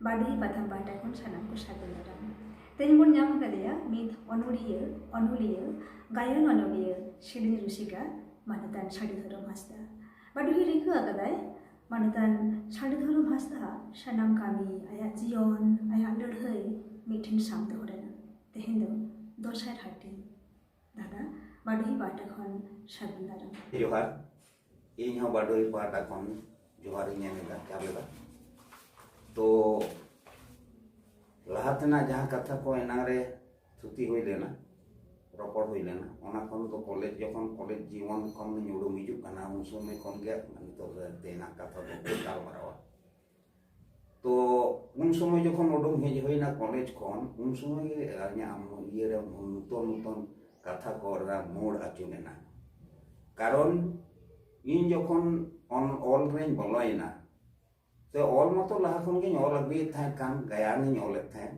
ᱵᱟᱰᱚᱦᱤ ᱯᱟᱛᱷᱟᱢ ᱯᱟᱦᱴᱟ ᱠᱷᱚᱱ ᱥᱟᱱᱟᱢ ᱠᱚ ᱥᱟᱹᱜᱩᱱ ᱫᱟᱨᱟᱢ ᱛᱮᱦᱮᱧ ᱵᱚᱱ ᱧᱟᱢ ᱟᱠᱟᱫᱮᱭᱟ ᱢᱤᱫ ᱚᱱᱚᱲᱦᱤᱭᱟᱹ ᱚᱱᱚᱞᱤᱭᱟᱹ ᱜᱟᱭᱟᱱ ᱚᱱᱚᱞᱤᱭᱟᱹ ᱥᱮᱨᱮᱧ ᱨᱩᱥᱤᱠᱟ ᱢᱟᱱᱚᱛᱟᱱ ᱥᱟᱹᱰᱤ ᱫᱷᱚᱨᱚᱢ ᱦᱟᱸᱥᱫᱟ ᱵᱟᱰᱚᱦᱤ ᱨᱤᱠᱟᱹ ᱟᱠᱟᱫᱟᱭ ᱢᱟᱱᱚᱛᱟᱱ ᱥᱟᱹᱰᱤ ᱫᱷᱚᱨᱚᱢ ᱦᱟᱸᱥᱫᱟ ᱥᱟᱱᱟᱢ ᱠᱟᱹᱢᱤ ᱟᱭᱟᱜ ᱡᱤᱭᱚᱱ ᱟᱭᱟᱜ ᱞᱟᱹᱲᱦᱟᱹᱭ ᱢᱤᱫᱴᱷᱮᱱ ᱥᱟᱵ ᱫᱚᱦᱚ ᱞᱮᱱᱟ ᱛᱮᱦᱮᱧ ᱫᱚ ᱫᱚᱥᱟᱨ ᱦᱟᱹᱴᱤᱧ ᱫᱟᱫᱟ ᱵᱟᱰᱚᱦᱤ ᱯᱟᱦᱴᱟ ᱠᱷᱚᱱ ᱥᱟᱹᱜᱩᱱ ᱫᱟᱨᱟᱢ ᱡᱚᱦᱟᱨ ᱤᱧ ᱦᱚᱸ ᱵᱟᱰᱳᱭ ᱯᱟᱦᱴᱟ ᱠᱷᱚᱱ ᱡᱚᱦᱟᱨ ᱤᱧ ᱮᱢ ᱮᱫᱟ ᱡᱚᱦᱟᱨ ᱮᱫᱟ ᱛᱚ ᱞᱟᱦᱟ ᱛᱮᱱᱟᱜ ᱡᱟᱦᱟᱸ ᱠᱟᱛᱷᱟ ᱠᱚ ᱮᱱᱟᱝ ᱨᱮ ᱛᱷᱩᱛᱤ ᱦᱩᱭ ᱞᱮᱱᱟ ᱨᱚᱯᱚᱲ ᱦᱩᱭ ᱞᱮᱱᱟ ᱚᱱᱟ ᱠᱷᱚᱱ ᱫᱚ ᱠᱚᱞᱮᱡᱽ ᱡᱚᱠᱷᱚᱱ ᱠᱚᱞᱮᱡᱽ ᱡᱤᱭᱚᱱ ᱠᱷᱚᱱ ᱧᱩᱲᱩᱢ ᱦᱤᱡᱩᱜ ᱠᱟᱱᱟ ᱩᱱ ᱥᱚᱢᱚᱭ ᱠᱷᱚᱱ ᱜᱮ ᱱᱤᱛᱚᱜ ᱫᱚ ᱛᱮᱱᱟᱜ ᱠᱟᱛᱷᱟ ᱫᱚ ᱜᱟᱞᱢᱟᱨᱟᱣᱟ ᱛᱚ ᱩᱱ ᱥᱚᱢᱚᱭ ᱡᱚᱠᱷᱚᱱ ᱩᱰᱩᱝ ᱦᱮᱡ ᱦᱩᱭᱱᱟ ᱠᱚᱞᱮᱡᱽ ᱠᱷᱚᱱ ᱩᱱ ᱥᱚᱢᱚᱭ ᱜᱮ ᱤᱧᱟᱹᱜ ᱤᱭᱟᱹ ᱨᱮ ᱱᱩᱛᱚᱱ ᱱᱩᱛᱚᱱ ᱠᱟᱛᱷᱟ ᱠᱚ ᱨᱮᱱᱟᱜ ᱢᱳᱲ ᱟᱹᱪᱩ ᱞᱮᱱᱟ ᱠᱟᱨᱚᱱ ᱤᱧ ᱡᱚᱠᱷᱚᱱ ᱚᱞ ᱨᱮᱧ ᱵᱚᱞᱚᱭᱮᱱᱟ ᱛᱚ ᱚᱞ ᱢᱟᱛᱚ ᱞᱟᱦᱟ ᱠᱷᱚᱱ ᱜᱤᱧ ᱚᱞ ᱟᱹᱜᱩᱭᱮᱫ ᱛᱟᱦᱮᱸᱫ ᱠᱟᱱ ᱜᱟᱭᱟᱱᱤᱧ ᱚᱞᱮᱫ ᱛᱟᱦᱮᱸᱫ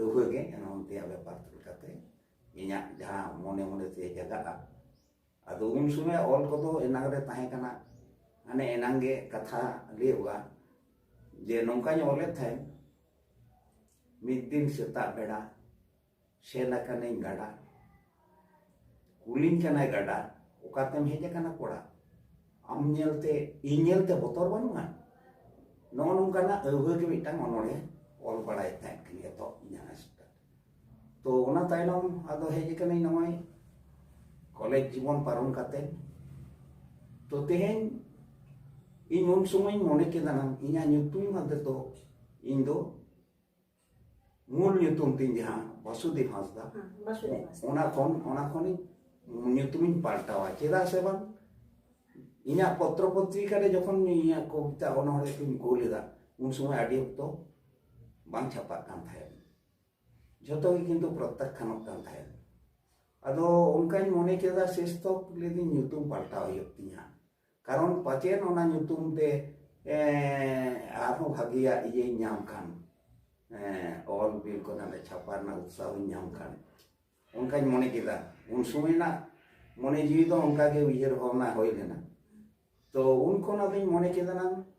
ᱟᱹᱣᱦᱟᱹ ᱜᱮ ᱮᱱ ᱚᱱᱛᱮᱭᱟᱜ ᱵᱮᱯᱟᱨ ᱛᱩᱞ ᱠᱟᱛᱮ ᱤᱧᱟᱹᱜ ᱡᱟᱦᱟᱸ ᱢᱚᱱᱮ ᱢᱚᱱᱮ ᱛᱮ ᱡᱟᱜᱟᱜᱼᱟ ᱟᱫᱚ ᱩᱱ ᱥᱚᱢᱚᱭ ᱚᱞ ᱠᱚᱫᱚ ᱮᱱᱟᱝ ᱨᱮ ᱛᱟᱦᱮᱸ ᱠᱟᱱᱟ ᱢᱟᱱᱮ ᱮᱱᱟᱝ ᱜᱮ ᱠᱟᱛᱷᱟ ᱞᱟᱹᱭᱚᱜᱼᱟ ᱡᱮ ᱱᱚᱝᱠᱟᱧ ᱚᱞᱮᱫ ᱛᱟᱦᱮᱸᱫ ᱢᱤᱫ ᱫᱤᱱ ᱥᱮᱛᱟᱜ ᱵᱮᱲᱟ ᱥᱮᱱ ᱟᱠᱟᱱᱟᱹᱧ ᱜᱟᱰᱟ ᱠᱩᱞᱤᱧ ᱠᱟᱱᱟᱭ ᱜᱟᱰᱟ ᱚᱠᱟᱛᱮᱢ ᱦᱮᱡ ᱟᱠᱟᱱᱟ ᱠᱚᱲᱟ ᱟᱢ ᱧᱮᱞᱛᱮ ᱤᱧ ᱧᱮᱞᱛᱮ ᱵᱚᱛᱚᱨ ᱵᱟᱹᱱᱩᱜᱼᱟ ᱱᱚᱜᱼᱚ ᱱᱚᱝᱠᱟᱱᱟᱜ ᱟᱹᱣᱦᱟᱹ ᱜᱮ ᱢᱤᱫᱴᱟᱝ ᱚᱱᱚᱬᱦᱮ ᱚᱞ ᱵᱟᱲᱟᱭᱮᱫ ᱛᱟᱦᱮᱸᱫ ᱠᱤᱱ ᱮᱛᱚᱦᱚᱵ ᱤᱧᱟᱹᱜ ᱟᱥᱴᱟ ᱛᱚ ᱚᱱᱟ ᱛᱟᱭᱱᱚᱢ ᱟᱫᱚ ᱦᱮᱡ ᱟᱠᱟᱱᱟᱹᱧ ᱱᱚᱜᱼᱚᱭ ᱠᱚᱞᱮᱡᱽ ᱡᱤᱵᱚᱱ ᱯᱟᱨᱚᱢ ᱠᱟᱛᱮ ᱛᱚ ᱛᱮᱦᱮᱧ ᱤᱧ ᱩᱱ ᱥᱚᱢᱚᱭ ᱢᱚᱱᱮ ᱠᱮᱫᱟ ᱱᱟᱝ ᱤᱧᱟᱹᱜ ᱧᱩᱛᱩᱢ ᱟᱫᱚ ᱤᱧ ᱫᱚ ᱢᱩᱞ ᱧᱩᱛᱩᱢ ᱛᱤᱧ ᱡᱟᱦᱟᱸ ᱵᱟᱥᱩᱫᱮᱵ ᱦᱟᱸᱥᱫᱟ ᱚᱱᱟ ᱠᱷᱚᱱ ᱚᱱᱟ ᱠᱷᱚᱱᱤᱧ ᱧᱩᱛᱩᱢᱤᱧ ᱯᱟᱞᱴᱟᱣᱟ ᱪᱮᱫᱟᱜ ᱥᱮ ᱵᱟᱝ ᱤᱧᱟᱹᱜ ᱯᱚᱛᱨᱚ ᱯᱚᱛᱨᱤᱠᱟ ᱨᱮ ᱡᱚᱠᱷᱚᱱ ᱤᱧᱟᱹᱜ ᱠᱚᱵᱤᱛᱟ ᱚᱱᱚᱬᱦᱮ ᱠᱚᱧ ᱠᱩᱞ ᱞᱮᱫᱟ ᱩᱱ ᱥᱚᱢᱚᱭ ᱟᱹᱰᱤ ᱚᱠᱛᱚ ᱵᱟᱝ ᱪᱷᱟᱯᱟᱜ ᱠᱟᱱ ᱛᱟᱦᱮᱸᱫ ᱡᱷᱚᱛᱚ ᱜᱮ ᱠᱤᱱᱛᱩ ᱯᱨᱚᱛᱛᱟᱠᱷᱟᱱᱚᱜ ᱠᱟᱱ ᱛᱟᱦᱮᱸᱫ ᱟᱫᱚ ᱚᱱᱠᱟᱧ ᱢᱚᱱᱮ ᱠᱮᱫᱟ ᱥᱮᱥ ᱛᱚᱠ ᱞᱟᱹᱭᱫᱟᱹᱧ ᱧᱩᱛᱩᱢ ᱯᱟᱞᱴᱟᱣ ᱦᱩᱭᱩᱜ ᱛᱤᱧᱟ ᱠᱟᱨᱚᱱ ᱯᱟᱪᱮᱱ ᱚᱱᱟ ᱧᱩᱛᱩᱢ ᱛᱮ ᱟᱨᱦᱚᱸ ᱵᱷᱟᱜᱮᱭᱟᱜ ᱤᱭᱟᱹᱧ ᱧᱟᱢ ᱠᱷᱟᱱ ᱚᱞ ᱵᱤᱞ ᱠᱚ ᱱᱟᱞᱮ ᱪᱷᱟᱯᱟ ᱨᱮᱱᱟᱜ ᱩᱛᱥᱟᱦᱚᱧ ᱧᱟᱢ ᱠᱷᱟᱱ ᱚᱱᱠᱟᱧ ᱢᱚᱱᱮ ᱠᱮᱫᱟ ᱩᱱ ᱥᱚᱢᱚᱭ ᱨᱮᱱᱟᱜ ᱢᱚᱱᱮ ᱡᱤᱣᱤ ᱫᱚ ᱚᱱᱠᱟᱜᱮ ᱩᱭᱦᱟᱹᱨ ᱵᱷᱟᱵᱽᱱᱟ ᱦᱩᱭ ᱞᱮᱱᱟ ᱛᱚ ᱩᱱ ᱠᱷᱚᱱ ᱟᱫᱚᱧ ᱢᱚᱱᱮ ᱠᱮᱫᱟ ᱱᱟᱝ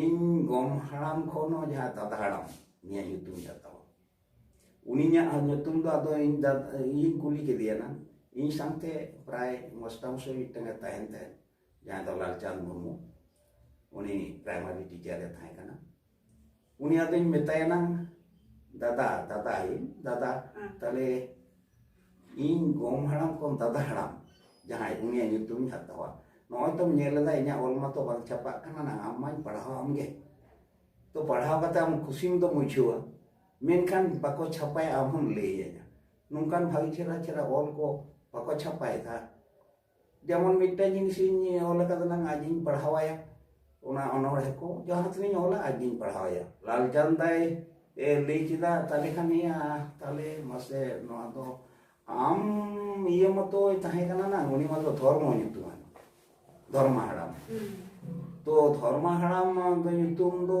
ᱤᱧ ᱜᱚᱢ ᱦᱟᱲᱟᱢ ᱠᱷᱚᱱ ᱦᱚᱸ ᱡᱟᱦᱟᱸ ᱫᱟᱫᱟ ᱦᱟᱲᱟᱢ ᱱᱤᱭᱟᱹ ᱧᱩᱛᱩᱢ ᱦᱟᱛᱟᱣᱟ ᱩᱱᱤᱧᱟᱜ ᱧᱩᱛᱩᱢ ᱫᱚ ᱟᱫᱚ ᱤᱧ ᱫᱟᱫᱟ ᱤᱧ ᱠᱩᱞᱤ ᱠᱮᱫᱮᱭᱟ ᱱᱟᱝ ᱤᱧ ᱥᱟᱶᱛᱮ ᱯᱨᱟᱭ ᱢᱚᱥᱴᱟᱢᱥᱚᱭ ᱢᱤᱫᱴᱟᱝ ᱮ ᱛᱟᱦᱮᱱ ᱛᱟᱦᱮᱸᱫ ᱡᱟᱦᱟᱸ ᱫᱚ ᱞᱟᱞᱪᱟᱸᱫᱽ ᱢᱩᱨᱢᱩ ᱩᱱᱤ ᱯᱨᱟᱭᱢᱟᱨᱤ ᱴᱤᱪᱟᱨ ᱮ ᱛᱟᱦᱮᱸ ᱠᱟᱱᱟ ᱩᱱᱤ ᱟᱫᱚᱧ ᱢᱮᱛᱟᱭᱟ ᱱᱟᱝ ᱫᱟᱫᱟ ᱫᱟᱫᱟ ᱤᱧ ᱫᱟᱫᱟ ᱛᱟᱦᱞᱮ ᱤᱧ ᱜᱚᱢ ᱦᱟᱲᱟᱢ ᱠᱷᱚᱱ ᱫᱟᱫᱟ ᱦᱟᱲᱟᱢ ᱡᱟᱦᱟᱸᱭ ᱩᱱᱤᱭᱟᱜ ᱧᱩᱛᱩᱢᱤᱧ ᱦᱟᱛᱟᱣᱟ ᱱᱚᱜᱼᱚᱭ ᱛᱚᱢ ᱧᱮᱞ ᱮᱫᱟ ᱤᱧᱟᱹᱜ ᱚᱞ ᱢᱟᱛᱚ ᱵᱟᱝ ᱪᱷᱟᱯᱟᱜ ᱠᱟᱱᱟ ᱱᱟᱝ ᱟᱢ ᱢᱟᱧ ᱯᱟᱲᱦᱟᱣ ᱟᱢ ᱜᱮ ᱛᱚ ᱯᱟᱲᱦᱟᱣ ᱠᱟᱛᱮ ᱟᱢ ᱠᱩᱥᱤᱢ ᱫᱚᱢ ᱵᱩᱡᱷᱟᱹᱣᱟ ᱢᱮᱱᱠᱷᱟᱱ ᱵᱟᱠᱚ ᱪᱷᱟᱯᱟᱭᱟ ᱟᱢ ᱦᱚᱢ ᱞᱟᱹᱭᱟᱹᱧᱟ ᱱᱚᱝᱠᱟᱱ ᱵᱷᱟᱹᱜᱤ ᱪᱮᱦᱨᱟ ᱪᱮᱦᱨᱟ ᱚᱞ ᱠᱚ ᱵᱟᱠᱚ ᱪᱷᱟᱯᱟᱭᱮᱫᱟ ᱡᱮᱢᱚᱱ ᱢᱤᱫᱴᱟᱝ ᱡᱤᱱᱤᱥ ᱤᱧ ᱚᱞ ᱟᱠᱟᱫᱟ ᱱᱟᱝ ᱟᱡᱤᱧ ᱯᱟᱲᱦᱟᱣᱟᱭᱟ ᱚᱱᱟ ᱚᱱᱚᱬᱦᱮ ᱠᱚ ᱡᱟᱦᱟᱸ ᱛᱤᱱᱟᱹᱧ ᱚᱞᱟ ᱟᱡᱤᱧ ᱯᱟᱲᱦᱟᱣᱟᱭᱟ ᱞᱟᱞᱪᱟᱸᱫᱽ ᱫᱟᱭ ᱞᱟᱹᱭ ᱠᱮᱫᱟ ᱛᱟᱦᱞᱮ ᱠᱷᱟᱱ ᱤᱭᱟᱹ ᱛᱟᱦᱞᱮ ᱢᱟᱥᱮ ᱱᱚᱣᱟ ᱫᱚ ᱟᱢ ᱤᱭᱟᱹ ᱢᱟᱛᱚᱭ ᱛᱟᱦᱮᱸ ᱠᱟᱱᱟ ᱱᱟᱝ ᱩᱱᱤ ᱢᱟᱛᱚ ᱫᱷᱚᱨᱢᱚ ᱧᱩᱛᱩᱢᱟᱱ ᱫᱷᱚᱨᱢᱟ ᱦᱟᱲᱟᱢ ᱛᱚ ᱫᱷᱚᱨᱢᱟ ᱦᱟᱲᱟᱢ ᱫᱚ ᱧᱩᱛᱩᱢ ᱫᱚ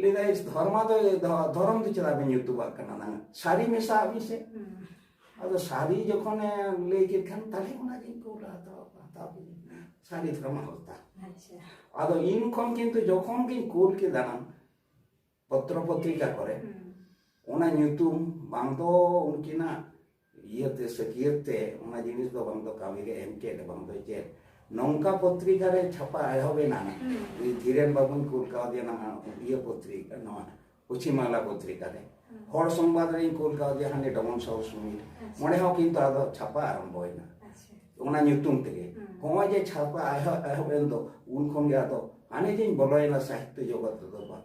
ᱞᱟᱹᱭᱫᱟᱭ ᱫᱷᱚᱨᱢᱟ ᱫᱚ ᱫᱷᱚᱨᱚᱢ ᱫᱚ ᱪᱮᱫᱟᱜ ᱵᱮᱱ ᱧᱩᱛᱩᱢᱟᱜ ᱠᱟᱱᱟ ᱱᱟᱝ ᱥᱟᱹᱨᱤ ᱢᱮᱥᱟ ᱟᱹᱵᱤᱱ ᱥᱮ ᱟᱫᱚ ᱥᱟᱹᱨᱤ ᱡᱚᱠᱷᱚᱱᱮ ᱞᱟᱹᱭ ᱠᱮᱫ ᱠᱷᱟᱱ ᱛᱟᱦᱞᱮ ᱚᱱᱟᱜᱤᱧ ᱠᱩᱞᱟ ᱦᱟᱛᱟᱣ ᱦᱟᱛᱟᱣ ᱥᱟᱹᱨᱤ ᱫᱷᱚᱨᱢᱟ ᱦᱚᱛᱟ ᱟᱫᱚ ᱤᱧ ᱠᱷᱚᱱ ᱠᱤᱱᱛᱩ ᱡᱚᱠᱷᱚᱱ ᱜᱤᱧ ᱠᱩᱞ ᱠᱮᱫᱟ ᱱᱟᱝ ᱯᱚᱛᱨᱚ ᱯᱚᱛᱨᱤᱠᱟ ᱠᱚᱨᱮ ᱚᱱᱟ ᱧᱩᱛᱩᱢ ᱵᱟᱝ ᱫᱚ ᱩᱱᱠᱤᱱᱟᱜ ᱤᱭᱟᱹᱛᱮ ᱥᱟᱹᱠᱤᱭᱟᱹᱛ ᱛᱮ ᱚᱱᱟ ᱡᱤᱱᱤᱥ ᱫᱚ ᱵᱟᱝ ᱫᱚ ᱠᱟᱹᱢᱤ ᱨᱮ ᱮᱢ ᱪᱮᱫ ᱵᱟᱝ ᱫᱚ ᱪᱮᱫ ᱱᱚᱝᱠᱟ ᱯᱚᱛᱨᱤᱠᱟ ᱨᱮ ᱪᱷᱟᱯᱟ ᱮᱦᱚᱵ ᱮᱱᱟ ᱩᱱᱤ ᱫᱷᱤᱨᱮᱱ ᱵᱟᱵᱩᱧ ᱠᱩᱞ ᱠᱟᱣᱫᱮᱭᱟ ᱱᱟᱦᱟᱜ ᱤᱭᱟᱹ ᱯᱚᱛᱨᱤᱠᱟ ᱱᱚᱣᱟ ᱯᱚᱪᱷᱤᱢ ᱵᱟᱝᱞᱟ ᱯᱚᱛᱨᱤᱠᱟ ᱨᱮ ᱦᱚᱲ ᱥᱚᱝᱵᱟᱫ ᱨᱮᱧ ᱠᱩᱞ ᱠᱟᱣᱫᱮᱭᱟ ᱦᱟᱸᱰᱮ ᱰᱚᱢᱚᱱ ᱥᱚᱦᱚᱨ ᱥᱩᱢᱤᱨ ᱚᱸᱰᱮ ᱦᱚᱸ ᱠᱤᱱᱛᱩ ᱟᱫᱚ ᱪᱷᱟᱯᱟ ᱟᱨᱟᱢᱵᱚᱭᱮᱱᱟ ᱚᱱᱟ ᱧᱩᱛᱩᱢ ᱛᱮᱜᱮ ᱦᱚᱸᱜᱼᱚᱭ ᱡᱮ ᱪᱷᱟᱯᱟ ᱮᱦᱚᱵ ᱮᱱ ᱫᱚ ᱩᱱ ᱠᱷᱚᱱ ᱜᱮ ᱟᱫᱚ ᱦᱟᱱᱮ ᱡᱮᱧ ᱵᱚᱞᱚᱭᱮᱱᱟ ᱥᱟᱦᱤᱛᱛᱚ ᱡᱚᱜᱚᱛ ᱨᱮᱫᱚ ᱵᱟᱝ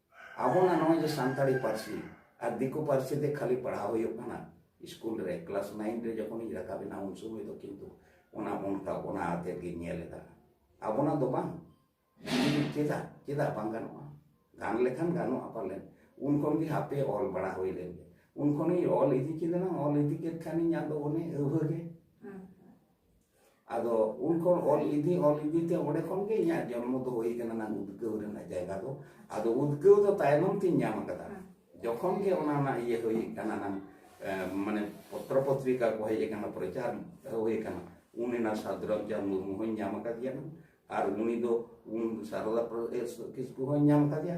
ᱟᱵᱚ ᱱᱟ ᱱᱚᱜᱼᱚᱭ ᱡᱮ ᱥᱟᱱᱛᱟᱲᱤ ᱯᱟᱹᱨᱥᱤ ᱟᱨ ᱫᱤᱠᱩ ᱯᱟᱹᱨᱥᱤ ᱛᱮ ᱠᱷᱟᱹᱞᱤ ᱯᱟᱲᱦᱟᱣ ᱦᱩᱭᱩᱜ ᱠᱟᱱᱟ ᱥᱠᱩᱞ ᱨᱮ ᱠᱞᱟᱥ ᱱᱟᱭᱤᱱ ᱨᱮ ᱡᱚᱠᱷᱚᱱᱤᱧ ᱨᱟᱠᱟᱵ ᱮᱱᱟ ᱩᱱ ᱥᱚᱢᱚᱭ ᱫᱚ ᱠᱤᱱᱛᱩ ᱚᱱᱟ ᱚᱱᱠᱟ ᱚᱱᱟ ᱟᱛᱮᱫ ᱜᱤᱧ ᱧᱮᱞ ᱮᱫᱟ ᱟᱵᱚᱱᱟᱜ ᱫᱚ ᱵᱟᱝ ᱪᱮᱫᱟᱜ ᱪᱮᱫᱟᱜ ᱵᱟᱝ ᱜᱟᱱᱚᱜᱼᱟ ᱜᱟᱱ ᱞᱮᱠᱷᱟᱱ ᱜᱟᱱᱚᱜᱼᱟ ᱯᱟᱞᱮᱱ ᱩᱱ ᱠᱷᱚᱱ ᱜᱮ ᱦᱟᱯᱮ ᱚᱞ ᱵᱟᱲᱟ ᱦᱩᱭ ᱞᱮᱱ ᱜᱮ ᱩᱱ ᱠᱷᱚᱱᱤᱧ ᱚᱞ ᱤᱫᱤ ᱠᱮᱫᱟ ᱚᱞ ᱤᱫᱤ ᱠᱮᱫ ᱠᱷᱟᱱᱤᱧ ᱟᱫᱚ ᱚᱱᱮ ᱟᱹᱣᱦᱟᱹ ᱜᱮ ᱟᱫᱚ ᱩᱱ ᱠᱷᱚᱱ ᱚᱞ ᱤᱫᱤ ᱚᱞ ᱤᱫᱤ ᱛᱮ ᱚᱸᱰᱮ ᱠᱷᱚᱱ ᱜᱮ ᱤᱧᱟᱹᱜ ᱡᱚᱱᱢᱚ ᱫᱚ ᱦᱩᱭ ᱠᱟᱱᱟ ᱱᱟᱝ ᱩᱫᱽᱜᱟᱹᱣ ᱨᱮᱱᱟᱜ ᱡᱟᱭᱜᱟ ᱫᱚ ᱟᱫᱚ ᱩᱫᱽᱜᱟᱹᱣ ᱫᱚ ᱛᱟᱭᱱᱚᱢ ᱛᱤᱧ ᱧᱟᱢ ᱟᱠᱟᱫᱟ ᱡᱚᱠᱷᱚᱱ ᱜᱮ ᱚᱱᱟ ᱨᱮᱱᱟᱜ ᱤᱭᱟᱹ ᱦᱩᱭ ᱠᱟᱱᱟ ᱱᱟᱝ ᱢᱟᱱᱮ ᱯᱚᱛᱨᱚ ᱯᱚᱛᱨᱤᱠᱟ ᱠᱚ ᱦᱮᱡ ᱟᱠᱟᱱᱟ ᱯᱨᱚᱪᱟᱨ ᱦᱩᱭ ᱟᱠᱟᱱᱟ ᱩᱱ ᱮᱱᱟ ᱥᱟᱫᱽᱨᱟᱢ ᱪᱟᱸᱫᱽ ᱢᱩᱨᱢᱩ ᱦᱚᱧ ᱧᱟᱢ ᱟᱠᱟᱫᱮᱭᱟ ᱟᱨ ᱩᱱᱤ ᱫᱚ ᱩᱱ ᱥᱟᱨᱚᱫᱟ ᱠᱤᱥᱠᱩ ᱦᱚᱧ ᱧᱟᱢ ᱟᱠᱟᱫᱮᱭᱟ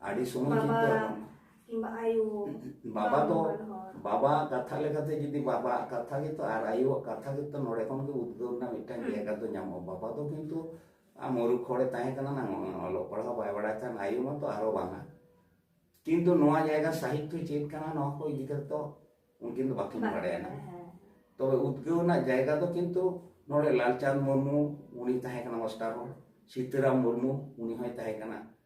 ᱟᱹᱰᱤ ᱥᱚᱢᱚᱭ ᱪᱤᱱᱛᱟᱹ ᱵᱷᱟᱵᱱᱟ ᱠᱤᱝᱵᱟ ᱟᱭᱳ ᱵᱟᱵᱟ ᱫᱚ ᱵᱟᱵᱟ ᱠᱟᱛᱷᱟ ᱞᱮᱠᱟᱛᱮ ᱡᱩᱫᱤ ᱵᱟᱵᱟ ᱠᱟᱛᱷᱟ ᱜᱮᱛᱚ ᱟᱨ ᱟᱭᱳ ᱠᱟᱛᱷᱟ ᱜᱮᱛᱚ ᱱᱚᱰᱮ ᱠᱷᱚᱱ ᱜᱮ ᱩᱫᱽᱜᱟᱹᱣ ᱨᱮᱱᱟᱜ ᱢᱤᱫᱴᱟᱝ ᱡᱟᱭᱜᱟ ᱫᱚ ᱧᱟᱢᱚᱜᱼᱟ ᱵᱟᱵᱟ ᱫᱚ ᱠᱤᱱᱛᱩ ᱟᱢ ᱢᱩᱨᱩᱠ ᱦᱚᱲᱮ ᱛᱟᱦᱮᱸ ᱠᱟᱱᱟ ᱱᱟᱝ ᱚᱞᱚᱜ ᱯᱟᱲᱦᱟᱣ ᱵᱟᱭ ᱵᱟᱲᱟᱭ ᱠᱷᱟᱱ ᱟᱭᱳ ᱢᱟᱛᱚ ᱟᱨᱚ ᱵᱟᱝᱟ ᱠᱤᱱᱛᱩ ᱱᱚᱣᱟ ᱡᱟᱭᱜᱟ ᱥᱟᱦᱤᱛᱛᱚ ᱪᱮᱫ ᱠᱟᱱᱟ ᱱᱚᱣᱟ ᱠᱚ ᱤᱫᱤ ᱠᱟᱛᱮ ᱫᱚ ᱩᱱᱠᱤᱱ ᱫᱚ ᱵᱟᱠᱤᱱ ᱵᱟᱲᱟᱭᱟ ᱱᱟᱝ ᱛᱚᱵᱮ ᱩᱫᱽᱜᱟᱹᱣ ᱨᱮᱱᱟᱜ ᱡᱟᱭᱜᱟ ᱫᱚ ᱠᱤᱱᱛᱩ ᱱᱚᱰᱮ ᱞᱟᱞᱪᱟᱸᱫᱽ ᱢᱩᱨᱢᱩ ᱩᱱᱤ ᱛᱟᱦᱮᱸ ᱠᱟᱱᱟ ᱢᱟᱥᱴᱟᱨ ᱦᱚᱲ ᱥᱤᱛᱟᱹᱨᱟᱢ ᱢᱩᱨᱢᱩ ᱩᱱᱤ ᱦᱚᱸᱭ ᱛᱟᱦᱮᱸ ᱠᱟᱱᱟ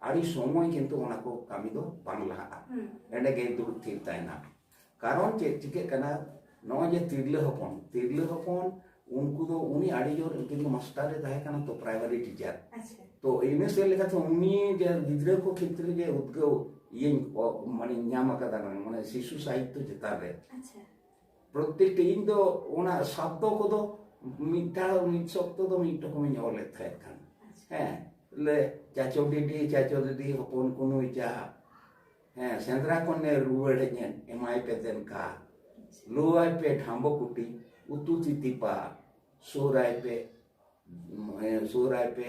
ᱟᱹᱰᱤ ᱥᱚᱢᱚᱭ ᱠᱤᱱᱛᱩ ᱚᱱᱟ ᱠᱚ ᱠᱟᱹᱢᱤ ᱫᱚ ᱵᱟᱝ ᱞᱟᱦᱟᱜᱼᱟ ᱮᱸᱰᱮ ᱜᱮ ᱫᱩᱲᱩᱵ ᱛᱷᱤᱨ ᱛᱟᱦᱮᱱᱟ ᱠᱟᱨᱚᱱ ᱪᱮᱫ ᱪᱤᱠᱟᱹᱜ ᱠᱟᱱᱟ ᱱᱚᱜᱼᱚᱭ ᱡᱮ ᱛᱤᱨᱞᱟᱹ ᱦᱚᱯᱚᱱ ᱛᱤᱨᱞᱟᱹ ᱦᱚᱯᱚᱱ ᱩᱱᱠᱩ ᱫᱚ ᱩᱱᱤ ᱟᱹᱰᱤ ᱡᱳᱨ ᱡᱩᱫᱤ ᱢᱟᱥᱴᱟᱨ ᱨᱮ ᱛᱟᱦᱮᱸ ᱠᱟᱱᱟ ᱛᱚ ᱯᱨᱟᱭᱢᱟᱨᱤ ᱴᱤᱪᱟᱨ ᱛᱚ ᱤᱱᱟᱹ ᱥᱮᱫ ᱞᱮᱠᱟᱛᱮ ᱩᱱᱤ ᱡᱮ ᱜᱤᱫᱽᱨᱟᱹ ᱠᱚ ᱠᱷᱮᱛᱨᱮ ᱡᱮ ᱩᱫᱽᱜᱟᱹᱣ ᱤᱭᱟᱹᱧ ᱢᱟᱱᱮ ᱧᱟᱢ ᱟᱠᱟᱫᱟ ᱢᱟᱱᱮ ᱥᱤᱥᱩ ᱥᱟᱦᱤᱛᱛᱚ ᱪᱮᱛᱟᱱ ᱨᱮ ᱯᱨᱚᱛᱮᱠᱴᱤ ᱤᱧ ᱫᱚ ᱚᱱᱟ ᱥᱚᱵᱫᱚ ᱠᱚᱫᱚ ᱢᱤᱫ ᱫᱷᱟᱣ ᱢᱤᱫ ᱥᱚᱵᱫᱚ ᱫᱚ ᱢᱤᱫ ᱨᱚᱠᱚᱢᱤᱧ ᱚᱞᱮᱫ ᱛᱟᱦᱮᱸᱫ ᱠᱟᱱ ᱦᱮᱸ ᱞᱮ ᱪᱟᱪᱚ ᱰᱤᱰᱤ ᱪᱟᱪᱚ ᱫᱤᱫᱤ ᱦᱚᱯᱚᱱ ᱠᱩᱱᱩᱭ ᱪᱟ ᱦᱮᱸ ᱥᱮᱸᱫᱽᱨᱟ ᱠᱷᱚᱱᱮ ᱨᱩᱣᱟᱹᱲ ᱦᱮᱡ ᱮᱱ ᱮᱢᱟᱭ ᱯᱮ ᱫᱮᱱ ᱠᱟ ᱞᱩᱣᱟᱭ ᱯᱮ ᱰᱷᱟᱢᱵᱚ ᱠᱩᱴᱤ ᱩᱛᱩ ᱛᱤᱛᱤᱯᱟ ᱥᱩᱨᱟᱭ ᱯᱮ ᱥᱩᱨᱟᱭ ᱯᱮ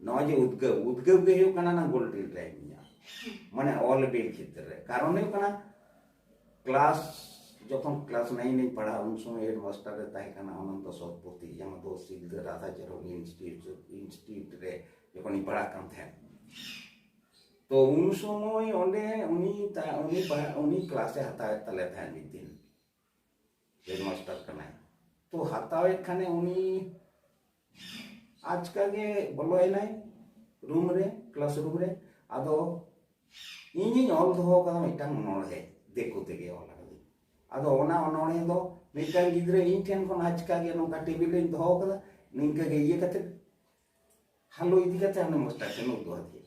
ᱱᱚᱜᱼᱚᱭ ᱡᱮ ᱩᱫᱽᱜᱟᱹᱣ ᱩᱫᱽᱜᱟᱹᱣ ᱜᱮ ᱦᱩᱭᱩᱜ ᱠᱟᱱᱟ ᱱᱟ ᱜᱳᱞ ᱨᱤᱞ ᱨᱮ ᱤᱧᱟᱹᱜ ᱢᱟᱱᱮ ᱚᱞ ᱵᱤᱞ ᱠᱷᱮᱛᱨᱮ ᱨᱮ ᱠᱟᱨᱚᱱ ᱦᱩᱭᱩᱜ ᱠᱟᱱᱟ ᱠᱞᱟᱥ ᱡᱚᱠᱷᱚᱱ ᱠᱞᱟᱥ ᱱᱟᱭᱤᱱ ᱤᱧ ᱯᱟᱲᱦᱟᱜ ᱩᱱ ᱥᱚᱢᱚᱭ ᱦᱮᱰ ᱢᱟᱥᱴᱟᱨ ᱨᱮ ᱛᱟᱦᱮᱸ ᱠᱟᱱᱟ ᱚᱱᱚᱱᱛᱚ ᱥᱚᱛᱯᱚᱛᱤ ᱡᱟᱦᱟᱸ ᱫᱚ ᱥᱤᱞᱫᱟᱹ ᱨᱟᱫᱷᱟ ᱪᱚᱨᱚᱱ ᱤᱱᱥᱴᱤᱴᱤᱭᱩᱴ ᱤᱱᱥᱴᱤᱴᱤᱭᱩᱴ ᱨᱮ ᱡᱚᱠᱷᱚᱱ ᱤᱧ ᱯᱟᱲᱦᱟᱜ ᱠᱟᱱ ᱛᱟᱦᱮᱸᱫ ᱛᱚ ᱩᱱ ᱥᱚᱢᱚᱭ ᱚᱸᱰᱮ ᱩᱱᱤ ᱩᱱᱤ ᱩᱱᱤ ᱠᱞᱟᱥᱮ ᱦᱟᱛᱟᱣᱮᱫ ᱛᱟᱞᱮ ᱛᱟᱦᱮᱸᱫ ᱢᱤᱫ ᱫᱤᱱ ᱦᱮᱰᱢᱟᱥᱴᱟᱨ ᱠᱟᱱᱟᱭ ᱛᱚ ᱦᱟᱛᱟᱣᱮᱫ ᱠᱷᱟᱱᱮ ᱩᱱᱤ ᱟᱪᱠᱟ ᱜᱮ ᱵᱚᱞᱚᱭᱮᱱᱟᱭ ᱨᱩᱢ ᱨᱮ ᱠᱞᱟᱥ ᱨᱩᱢ ᱨᱮ ᱟᱫᱚ ᱤᱧᱤᱧ ᱚᱞ ᱫᱚᱦᱚ ᱟᱠᱟᱫᱟ ᱢᱤᱫᱴᱟᱝ ᱚᱱᱚᱬᱦᱮ ᱫᱤᱠᱩ ᱛᱮᱜᱮ ᱚᱞ ᱟᱠᱟᱫᱟᱹᱧ ᱟᱫᱚ ᱚᱱᱟ ᱚᱱᱚᱬᱦᱮ ᱫᱚ ᱢᱤᱫᱴᱟᱝ ᱜᱤᱫᱽᱨᱟᱹ ᱤᱧ ᱴᱷᱮᱱ ᱠᱷᱚᱱ ᱟᱪᱠᱟ ᱜᱮ ᱱᱚᱝᱠᱟ ᱴᱮᱵᱤᱞ ᱨᱮᱧ ᱫᱚᱦᱚ ᱟᱠᱟᱫᱟ ᱱᱤᱝᱠᱟᱹ ᱜᱮ ᱤᱭᱟᱹ ᱠᱟᱛᱮ ᱦᱟᱞᱚ ᱤᱫᱤ ᱠᱟᱛᱮ ᱦᱟᱱᱮ ᱢᱟᱥᱴᱟᱨ ᱴᱷᱮᱱ ᱩᱫᱩᱜ ᱟᱫᱮᱭᱟ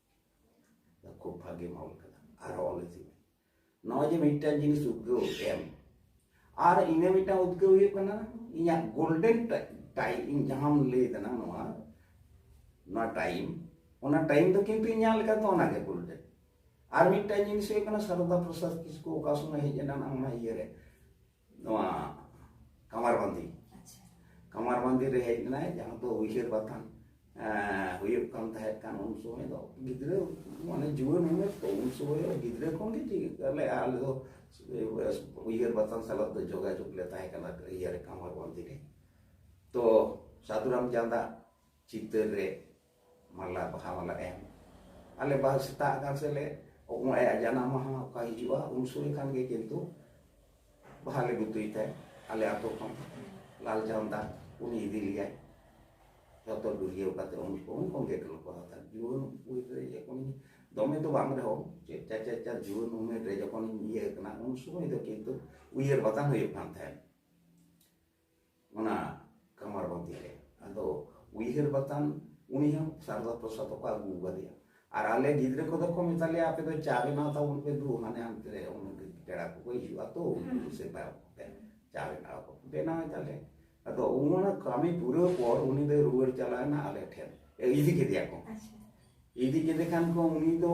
ᱠᱷᱩᱵ ᱵᱷᱟᱜᱮ ᱢᱚᱞ ᱠᱟᱱᱟ ᱟᱨ ᱚᱞ ᱤᱫᱤ ᱢᱮ ᱱᱚᱜᱼᱚᱭ ᱡᱮ ᱢᱤᱫᱴᱟᱝ ᱡᱤᱱᱤᱥ ᱩᱫᱽᱜᱟᱹᱣ ᱮᱢ ᱟᱨ ᱤᱱᱟᱹ ᱢᱤᱫᱴᱟᱝ ᱩᱫᱽᱜᱟᱹᱣ ᱦᱩᱭᱩᱜ ᱠᱟᱱᱟ ᱤᱧᱟᱹᱜ ᱜᱳᱞᱰᱮᱱ ᱴᱟᱭᱤᱢ ᱤᱧ ᱡᱟᱦᱟᱸᱢ ᱞᱟᱹᱭ ᱫᱟᱱᱟ ᱱᱚᱣᱟ ᱱᱚᱣᱟ ᱴᱟᱭᱤᱢ ᱚᱱᱟ ᱴᱟᱭᱤᱢ ᱫᱚ ᱠᱤᱱᱛᱩ ᱤᱧᱟᱹᱜ ᱞᱮᱠᱟᱛᱮ ᱚᱱᱟᱜᱮ ᱜᱳᱞᱰᱮᱱ ᱟᱨ ᱢᱤᱫᱴᱟᱝ ᱡᱤᱱᱤᱥ ᱦᱩᱭᱩᱜ ᱠᱟᱱᱟ ᱥᱟᱨᱚᱫᱟ ᱯᱨᱚᱥᱟᱫᱽ ᱠᱤᱥᱠᱩ ᱚᱠᱟ ᱥᱚᱢᱚᱭ ᱦᱮᱡ ᱮᱱᱟ ᱚᱱᱟ ᱤᱭᱟᱹᱨᱮ ᱱᱚᱣᱟ ᱠᱟᱢᱟᱨᱵᱟᱱᱫᱤ ᱠᱟᱢᱟᱨᱵᱟᱱᱫᱤ ᱨᱮ ᱦᱮᱡ ᱞᱮᱱᱟᱭ ᱡᱟᱦᱟᱸ ᱫᱚ ᱩᱭᱦᱟᱹᱨ ᱵᱟᱛᱟᱱ ᱦᱩᱭᱩᱜ ᱠᱟᱱ ᱛᱟᱦᱮᱸ ᱠᱟᱱ ᱩᱱ ᱥᱚᱢᱚᱭ ᱫᱚ ᱜᱤᱫᱽᱨᱟᱹ ᱢᱟᱱᱮ ᱡᱩᱣᱟᱹᱱ ᱩᱢᱮᱨ ᱛᱚ ᱩᱱ ᱥᱚᱢᱚᱭ ᱜᱤᱫᱽᱨᱟᱹ ᱠᱷᱚᱱ ᱜᱮ ᱪᱮᱫ ᱟᱞᱮ ᱟᱞᱮ ᱫᱚ ᱩᱭᱦᱟᱹᱨ ᱵᱟᱛᱟᱱ ᱥᱟᱞᱟᱜ ᱫᱚ ᱡᱳᱜᱟᱡᱳᱜᱽ ᱞᱮ ᱛᱟᱦᱮᱸ ᱠᱟᱱᱟ ᱤᱭᱟᱹ ᱨᱮ ᱠᱟᱢᱟᱨᱵᱟᱱᱫᱤ ᱨᱮ ᱛᱚ ᱥᱟᱫᱷᱩᱨᱟᱢ ᱪᱟᱸᱫᱟ ᱪᱤᱛᱟᱹᱨ ᱨᱮ ᱢᱟᱞᱟ ᱵᱟᱦᱟ ᱢᱟᱞᱟ ᱮᱢ ᱟᱞᱮ ᱵᱟᱦᱟ ᱥᱮᱛᱟᱜ ᱟᱠᱟᱱ ᱥᱮ ᱞᱮ ᱚᱠᱚᱭ ᱟᱭᱟᱜ ᱡᱟᱱᱟᱢ ᱢᱟᱦᱟ ᱚᱠᱟ ᱦᱤᱡᱩᱜᱼᱟ ᱩᱱ ᱥᱚᱢᱚᱭ ᱠᱷᱟᱱ ᱜᱮ ᱠᱤᱱᱛᱩ ᱵᱟᱦᱟ ᱞᱮ ᱜᱩᱛᱩᱭ ᱛᱟᱭ ᱟᱞᱮ ᱟᱛᱳ ᱠᱷᱚᱱ ᱞᱟᱞ ᱡᱟᱢᱫᱟ ᱩᱱᱤ ᱤᱫᱤ ᱞᱮᱭᱟᱭ ᱡᱚᱛᱚ ᱜᱩᱨᱤᱭᱟᱹᱣ ᱠᱟᱛᱮ ᱩᱱ ᱠᱚ ᱩᱱ ᱠᱷᱚᱱ ᱜᱮ ᱠᱚ ᱵᱟᱦᱟ ᱛᱟᱭ ᱡᱩᱣᱟᱹᱱ ᱩᱢᱮᱨ ᱨᱮ ᱡᱚᱠᱷᱚᱱ ᱫᱚᱢᱮ ᱫᱚ ᱵᱟᱝ ᱨᱮᱦᱚᱸ ᱪᱮᱫ ᱪᱟᱨ ᱪᱟᱨ ᱪᱟᱨ ᱡᱩᱣᱟᱹᱱ ᱩᱢᱮᱨ ᱨᱮ ᱡᱚᱠᱷᱚᱱ ᱤᱭᱟᱹ ᱠᱟᱱᱟ ᱩᱱ ᱥᱚᱢᱚᱭ ᱫᱚ ᱠᱤᱱᱛᱩ ᱩᱭᱦᱟᱹᱨ ᱵᱟᱛᱟᱱ ᱦᱩᱭᱩᱜ ᱠᱟᱱ ᱛᱟᱦᱮᱸᱫ ᱚᱱᱟ ᱠᱟᱢᱟᱨ ᱵᱟᱸᱫᱤ ᱨᱮ ᱟᱫᱚ ᱩᱭᱦᱟᱹᱨ ᱵᱟᱛᱟᱱ ᱩᱱᱤ ᱦᱚᱸ ᱥᱟᱨᱚᱫᱟ ᱯᱨᱚᱥᱟᱫᱽ ᱠᱚ ᱟᱹᱜᱩ ᱟᱠᱟᱫᱮᱭᱟ ᱟᱨ ᱟᱞᱮ ᱜᱤᱫᱽᱨᱟᱹ ᱠᱚᱫᱚ ᱠᱚ ᱢᱮᱛᱟ ᱞᱮᱭᱟ ᱟᱯᱮ ᱫᱚ ᱪᱟ ᱵᱮᱱᱟᱣ ᱛᱟᱵᱚᱱ ᱯᱮ ᱫᱩ ᱦᱟᱱᱮ ᱦᱟᱱᱛᱮ ᱨᱮ ᱚᱱᱟ ᱯᱮᱲᱟ ᱠᱚᱠᱚ ᱦᱤᱡᱩᱜᱼᱟ ᱛᱚ ᱩᱱᱠᱩ ᱥᱮᱛᱟ ᱠᱚᱛᱮ ᱪᱟ ᱵᱮᱱᱟᱣ ᱠᱚ ᱵᱮᱱᱟᱣ ᱮᱫᱟᱞᱮ ᱟᱫᱚ ᱚᱱᱟ ᱠᱟᱹᱢᱤ ᱯᱩᱨᱟᱹᱣ ᱯᱚᱨ ᱩᱱᱤ ᱫᱚᱭ ᱨᱩᱣᱟᱹᱲ ᱪᱟᱞᱟᱣᱮᱱᱟ ᱟᱞᱮ ᱴᱷᱮᱱ ᱤᱫᱤ ᱠᱮᱫᱮᱭᱟ ᱠᱚ ᱤᱫᱤ ᱠᱮᱫᱮ ᱠᱷᱟᱱ ᱠᱚ ᱩᱱᱤ ᱫᱚ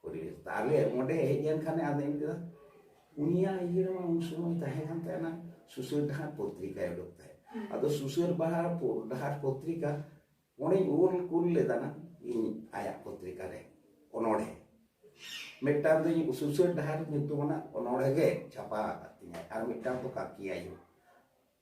ᱯᱚᱨᱤᱵᱮᱥ ᱛᱟᱦᱚᱞᱮ ᱚᱸᱰᱮ ᱦᱮᱡ ᱮᱱ ᱠᱷᱟᱱᱮ ᱟᱫᱚᱧ ᱢᱮᱛᱟᱫᱟ ᱩᱱᱤᱭᱟᱜ ᱤᱭᱟᱹ ᱨᱮᱢᱟ ᱩᱱ ᱥᱚᱢᱚᱭ ᱛᱟᱦᱮᱸ ᱠᱟᱱ ᱛᱟᱦᱮᱱᱟ ᱥᱩᱥᱟᱹᱨ ᱰᱟᱦᱟᱨ ᱯᱚᱛᱨᱤᱠᱟᱭ ᱩᱰᱩᱠ ᱛᱟᱦᱮᱸᱫ ᱟᱫᱚ ᱥᱩᱥᱟᱹᱨ ᱵᱟᱦᱟᱨ ᱰᱟᱦᱟᱨ ᱯᱚᱛᱨᱤᱠᱟ ᱚᱸᱰᱮᱧ ᱚᱞ ᱠᱩᱞ ᱞᱮᱫᱟᱱᱟ ᱤᱧ ᱟᱭᱟᱜ ᱯᱚᱛᱨᱤᱠᱟ ᱨᱮ ᱚᱱᱚᱲᱦᱮ ᱢᱤᱫᱴᱟᱝ ᱫᱚ ᱤᱧ ᱥᱩᱥᱟᱹᱨ ᱰᱟᱦᱟᱨ ᱧᱩᱛᱩᱢᱟᱱᱟᱜ ᱚᱱᱚᱲᱦᱮ ᱜᱮ ᱪᱷᱟᱯᱟ ᱟᱠᱟᱫ ᱛᱤᱧᱟᱹ ᱟᱨ ᱢᱤᱫᱴᱟᱝ ᱫᱚ ᱠᱟᱠᱤᱭᱟᱭᱳ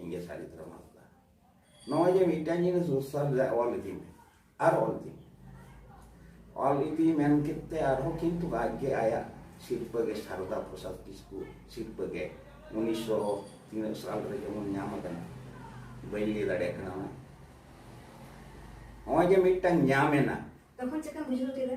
ᱤᱧᱜᱮ ᱥᱟᱹᱨᱤ ᱫᱷᱚᱨᱚᱢ ᱦᱟᱸᱥᱫᱟ ᱱᱚᱜᱼᱚᱭ ᱡᱮ ᱢᱤᱫᱴᱟᱝ ᱡᱤᱱᱤᱥ ᱩᱥᱟᱞ ᱨᱮ ᱚᱞ ᱤᱫᱤ ᱢᱮ ᱟᱨ ᱚᱞ ᱤᱫᱤ ᱢᱮ ᱚᱞ ᱤᱫᱤ ᱢᱮᱱ ᱠᱮᱫ ᱛᱮ ᱟᱨᱦᱚᱸ ᱠᱤᱱᱛᱩ ᱟᱡᱜᱮ ᱟᱭᱟᱜ ᱥᱤᱨᱯᱟᱹ ᱜᱮ ᱥᱟᱨᱚᱫᱟ ᱯᱨᱚᱥᱟᱫᱽ ᱠᱤᱥᱠᱩ ᱥᱤᱨᱯᱟᱹ ᱜᱮ ᱩᱱᱤᱥᱥᱚ ᱛᱤᱱᱟᱹᱜ ᱥᱟᱞ ᱨᱮ ᱡᱮᱢᱚᱱ ᱧᱟᱢ ᱟᱠᱟᱱᱟ ᱵᱟᱹᱧ ᱞᱟᱹᱭ ᱫᱟᱲᱮᱭᱟᱜ ᱠᱟᱱᱟ ᱚᱱᱟ ᱱᱚᱜᱼᱚᱭ ᱡᱮ ᱢᱤᱫᱴᱟᱝ ᱧᱟᱢ ᱮᱱᱟ ᱛᱚᱠᱷᱚᱱ ᱪᱮᱠᱟᱢ ᱵᱩᱡᱷᱟᱹᱣ ᱠᱮᱫᱟ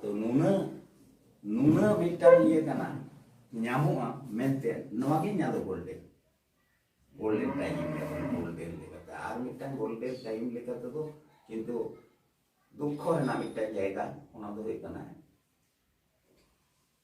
ᱛᱚ ᱱᱩᱱᱟᱹᱜ ᱱᱩᱱᱟᱹᱜ ᱢᱤᱫᱴᱟᱝ ᱤᱭᱟᱹ ᱠᱟᱱᱟ ᱧᱟᱢᱚᱜᱼᱟ ᱢᱮᱱᱛᱮ ᱱᱚᱣᱟ ᱜᱮ ᱤᱧᱟᱹᱜ ᱫᱚ ᱜᱳᱞᱰᱮᱱ ᱜᱳᱞᱰᱮᱱ ᱴᱟᱭᱤᱢ ᱜᱳᱞᱰᱮᱱ ᱞᱮᱠᱟᱛᱮ ᱟᱨ ᱢᱤᱫᱴᱟᱝ ᱜᱳᱞᱰᱮᱱ ᱴᱟᱭᱤᱢ ᱞᱮᱠᱟ ᱛᱮᱫᱚ ᱠᱤᱱᱛᱩ ᱫᱩᱠᱠᱷᱚ ᱨᱮᱱᱟᱜ ᱢᱤᱫᱴᱟᱝ ᱡᱟᱭᱜᱟ ᱚᱱᱟ ᱫᱚ ᱦᱩᱭᱩᱜ ᱠᱟᱱᱟ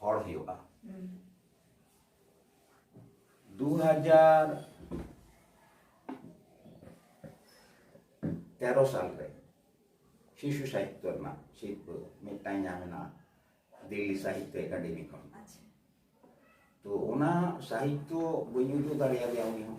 ᱦᱚᱲ ᱦᱩᱭᱩᱜᱼᱟ ᱫᱩ ᱦᱟᱡᱟᱨ ᱛᱮᱨᱚ ᱥᱟᱞ ᱨᱮ ᱥᱤᱥᱩ ᱥᱟᱦᱤᱛᱛᱚ ᱨᱮᱱᱟᱜ ᱥᱤᱨᱯᱟᱹ ᱢᱤᱫᱴᱟᱝ ᱧᱟᱢ ᱮᱱᱟ ᱫᱤᱞᱞᱤ ᱥᱟᱦᱤᱛᱛᱚ ᱮᱠᱟᱰᱮᱢᱤ ᱠᱷᱚᱱ ᱛᱚ ᱚᱱᱟ ᱥᱟᱦᱤᱛᱛᱚ ᱵᱟᱹᱧ ᱩᱫᱩᱜ ᱫᱟᱲᱮᱭᱟᱫᱮᱭᱟ ᱩᱱᱤ ᱦᱚᱸ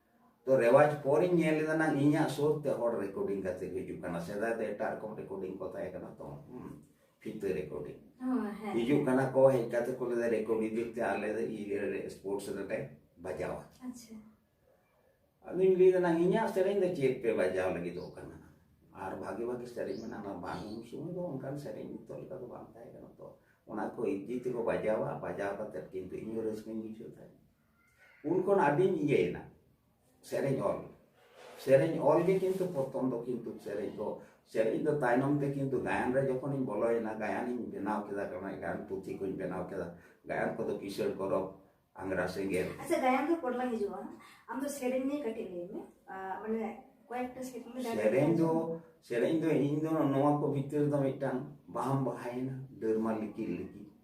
ᱛᱚ ᱨᱮᱣᱟᱡᱽ ᱯᱚᱨᱤᱧ ᱧᱮᱞ ᱞᱮᱫᱟ ᱱᱟᱝ ᱤᱧᱟᱹᱜ ᱥᱩᱨ ᱛᱮ ᱦᱚᱲ ᱨᱮᱠᱚᱨᱰᱤᱝ ᱠᱟᱛᱮ ᱠᱚ ᱦᱤᱡᱩᱜ ᱠᱟᱱᱟ ᱥᱮᱫᱟᱭ ᱫᱚ ᱮᱴᱟᱜ ᱨᱚᱠᱚᱢ ᱨᱮᱠᱚᱨᱰᱤᱝ ᱠᱚ ᱛᱟᱦᱮᱸ ᱠᱟᱱᱟ ᱛᱚ ᱯᱷᱤᱛᱟᱹ ᱨᱮᱠᱚᱨᱰᱤᱝ ᱦᱤᱡᱩᱜ ᱠᱟᱱᱟ ᱠᱚ ᱦᱮᱡ ᱠᱟᱛᱮ ᱠᱚ ᱞᱟᱹᱭᱫᱟ ᱨᱮᱠᱚᱨᱰ ᱤᱫᱤ ᱛᱮ ᱟᱞᱮ ᱫᱚ ᱤᱭᱟᱹ ᱥᱯᱳᱨᱴᱥ ᱨᱮᱞᱮ ᱵᱟᱡᱟᱣᱟ ᱟᱪᱪᱷᱟ ᱟᱫᱚᱧ ᱞᱟᱹᱭᱫᱟ ᱱᱟᱝ ᱤᱧᱟᱹᱜ ᱥᱮᱨᱮᱧ ᱫᱚ ᱪᱮᱫ ᱯᱮ ᱵᱟᱡᱟᱣ ᱞᱟᱹᱜᱤᱫᱚᱜ ᱠᱟᱱᱟ ᱟᱨ ᱵᱷᱟᱜᱮ ᱵᱷᱟᱜᱮ ᱥᱮᱨᱮᱧ ᱢᱮᱱᱟᱜᱼᱟ ᱵᱟᱝ ᱩᱱ ᱥᱚᱢᱚᱭ ᱫᱚ ᱚᱱᱠᱟᱱ ᱥᱮᱨᱮᱧ ᱱᱤᱛᱚᱜ ᱞᱮᱠᱟ ᱫᱚ ᱵᱟᱝ ᱛᱟᱦᱮᱸ ᱠᱟᱱᱟ ᱛᱚ ᱚᱱᱟ ᱠᱚ ᱤᱫᱤ ᱛᱮᱠᱚ ᱵᱟᱡᱟᱣᱟ ᱵᱟᱡᱟᱣ ᱠᱟᱛᱮ ᱠᱤᱱᱛᱩ ᱤᱧ ᱦᱚᱸ ᱨᱟᱹᱥᱠᱟᱹᱧ ᱵᱩᱡᱷᱟᱹᱣ ᱛᱟᱦᱮᱸᱫ ᱩᱱ ᱠᱷᱚᱱ ᱟᱹᱰᱤᱧ ᱤᱭᱟᱹᱭᱮᱱᱟ ᱥᱮᱨᱮᱧ ᱚᱞ ᱥᱮᱨᱮᱧ ᱚᱞ ᱜᱮ ᱠᱤᱱᱛᱩ ᱯᱨᱚᱛᱷᱚᱢ ᱫᱚ ᱠᱤᱱᱛᱩ ᱥᱮᱨᱮᱧ ᱫᱚ ᱥᱮᱨᱮᱧ ᱫᱚ ᱛᱟᱭᱱᱚᱢ ᱛᱮ ᱠᱤᱱᱛᱩ ᱜᱟᱭᱟᱱ ᱨᱮ ᱡᱚᱠᱷᱚᱱᱤᱧ ᱵᱚᱞᱚᱭᱮᱱᱟ ᱜᱟᱭᱟᱱᱤᱧ ᱵᱮᱱᱟᱣ ᱠᱮᱫᱟ ᱠᱟᱱᱟ ᱜᱟᱭᱟᱱ ᱯᱩᱛᱷᱤ ᱠᱚᱧ ᱵᱮᱱᱟᱣ ᱠᱮᱫᱟ ᱜᱟᱭᱟᱱ ᱠᱚᱫᱚ ᱠᱤᱥᱟᱹᱬ ᱠᱚᱨᱚᱵ ᱟᱝᱜᱽᱨᱟ ᱥᱮᱸᱜᱮᱞ ᱟᱪᱪᱷᱟ ᱜᱟᱭᱟᱱ ᱫᱚ ᱯᱚᱨᱞᱟ ᱦᱤᱡᱩᱜᱼᱟ ᱟᱢ ᱫᱚ ᱥᱮᱨᱮᱧ ᱱᱤᱭᱮ ᱠᱟᱹᱴᱤᱡ ᱞᱟᱹᱭ ᱢᱮ ᱢᱟᱱᱮ ᱠᱚᱭᱮᱠᱴᱟ ᱥᱮᱨᱮᱧ ᱫᱚ ᱥᱮᱨᱮᱧ ᱫᱚ ᱤᱧ ᱫᱚ ᱱᱚᱣᱟ ᱠᱚ ᱵᱷᱤᱛᱤᱨ ᱫᱚ ᱢᱤᱫᱴᱟᱝ ᱵᱟᱦᱟᱢ ᱵᱟᱦᱟᱭᱮᱱᱟ ᱰᱟᱹᱨᱢᱟ ᱞᱤᱠᱤ ᱞᱤᱠᱤ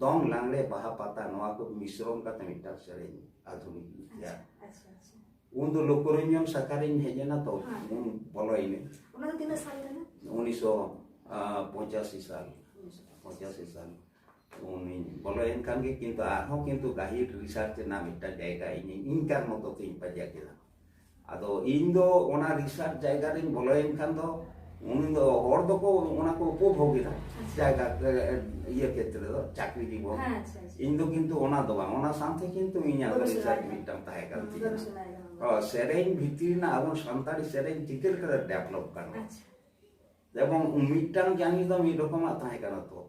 ᱫᱚᱝ ᱞᱟᱝᱲᱮ ᱵᱟᱦᱟ ᱯᱟᱛᱟ ᱱᱚᱣᱟ ᱠᱚ ᱢᱤᱥᱨᱚᱢ ᱠᱟᱛᱮ ᱢᱤᱫᱴᱟᱝ ᱥᱮᱨᱮᱧ ᱟᱫᱷᱩᱱᱤᱠ ᱜᱤᱛᱤᱭᱟ ᱩᱱ ᱫᱚ ᱞᱳᱠᱚᱨᱚᱧᱡᱚᱱ ᱥᱟᱠᱟᱨᱤᱧ ᱦᱮᱡ ᱮᱱᱟ ᱛᱚ ᱩᱱ ᱵᱚᱞᱚᱭᱮᱱᱟ ᱚᱱᱟ ᱫᱚ ᱛᱤᱱᱟᱹᱜ ᱥᱟᱞ ᱠᱟᱱᱟ ᱩᱱᱤᱥᱥᱚ ᱯᱚᱸᱪᱟᱥᱤ ᱥᱟᱞ ᱯᱚᱸᱪᱟᱥᱤ ᱥᱟᱞ ᱩᱱᱤ ᱵᱚᱞᱚᱭᱮᱱ ᱠᱷᱟᱱ ᱜᱮ ᱠᱤᱱᱛᱩ ᱟᱨᱦᱚᱸ ᱠᱤᱱᱛᱩ ᱜᱟᱹᱦᱤᱨ ᱨᱤᱥᱟᱨᱪ ᱨᱮᱱᱟᱜ ᱢᱤᱫᱴᱟᱝ ᱡᱟᱭᱜᱟ ᱤᱧ ᱤᱧ ᱠᱟᱨ ᱢᱚᱛᱚ ᱛᱤᱧ ᱯᱟᱸᱡᱟ ᱠᱮᱫᱟ ᱟᱫᱚ ᱤᱧ ᱫᱚ ᱚᱱᱟ ᱨᱤᱥᱟᱨᱪ ᱡᱟᱭᱜᱟ ᱨᱤᱧ ᱵᱚᱞᱚᱭᱮᱱ ᱠᱷᱟᱱ ᱫᱚ ᱩᱱᱤ ᱫᱚ ᱦᱚᱲ ᱫᱚᱠᱚ ᱚᱱᱟ ᱠᱚ ᱩᱯᱚᱵᱷᱳᱜᱽ ᱮᱫᱟ ᱡᱟᱭᱜᱟ ᱤᱭᱟᱹ ᱠᱷᱮᱛᱨᱮ ᱫᱚ ᱪᱟᱠᱨᱤ ᱡᱤᱵᱚᱱ ᱤᱧ ᱫᱚ ᱠᱤᱱᱛᱩ ᱚᱱᱟ ᱫᱚ ᱵᱟᱝ ᱚᱱᱟ ᱥᱟᱶᱛᱮ ᱠᱤᱱᱛᱩ ᱤᱧᱟᱹᱜ ᱫᱚ ᱨᱤᱥᱟᱨᱪ ᱢᱤᱫᱴᱟᱝ ᱛᱟᱦᱮᱸ ᱠᱟᱱ ᱛᱤᱧᱟ ᱥᱮᱨᱮᱧ ᱵᱷᱤᱛᱨᱤ ᱨᱮᱱᱟᱜ ᱟᱵᱚ ᱥᱟᱱᱛᱟᱲᱤ ᱥᱮᱨᱮᱧ ᱪᱤᱠᱟᱹ ᱞᱮᱠᱟᱛᱮ ᱰᱮᱵᱷᱞᱚᱯ ᱜᱟᱱᱚᱜᱼᱟ ᱡᱮᱢᱚᱱ ᱢᱤᱫᱴᱟᱝ ᱡᱟᱹᱱᱤ ᱫᱚ ᱢᱤᱫ ᱨᱚᱠᱚᱢᱟᱜ ᱛᱟᱦᱮᱸ ᱠᱟᱱᱟ ᱛᱚ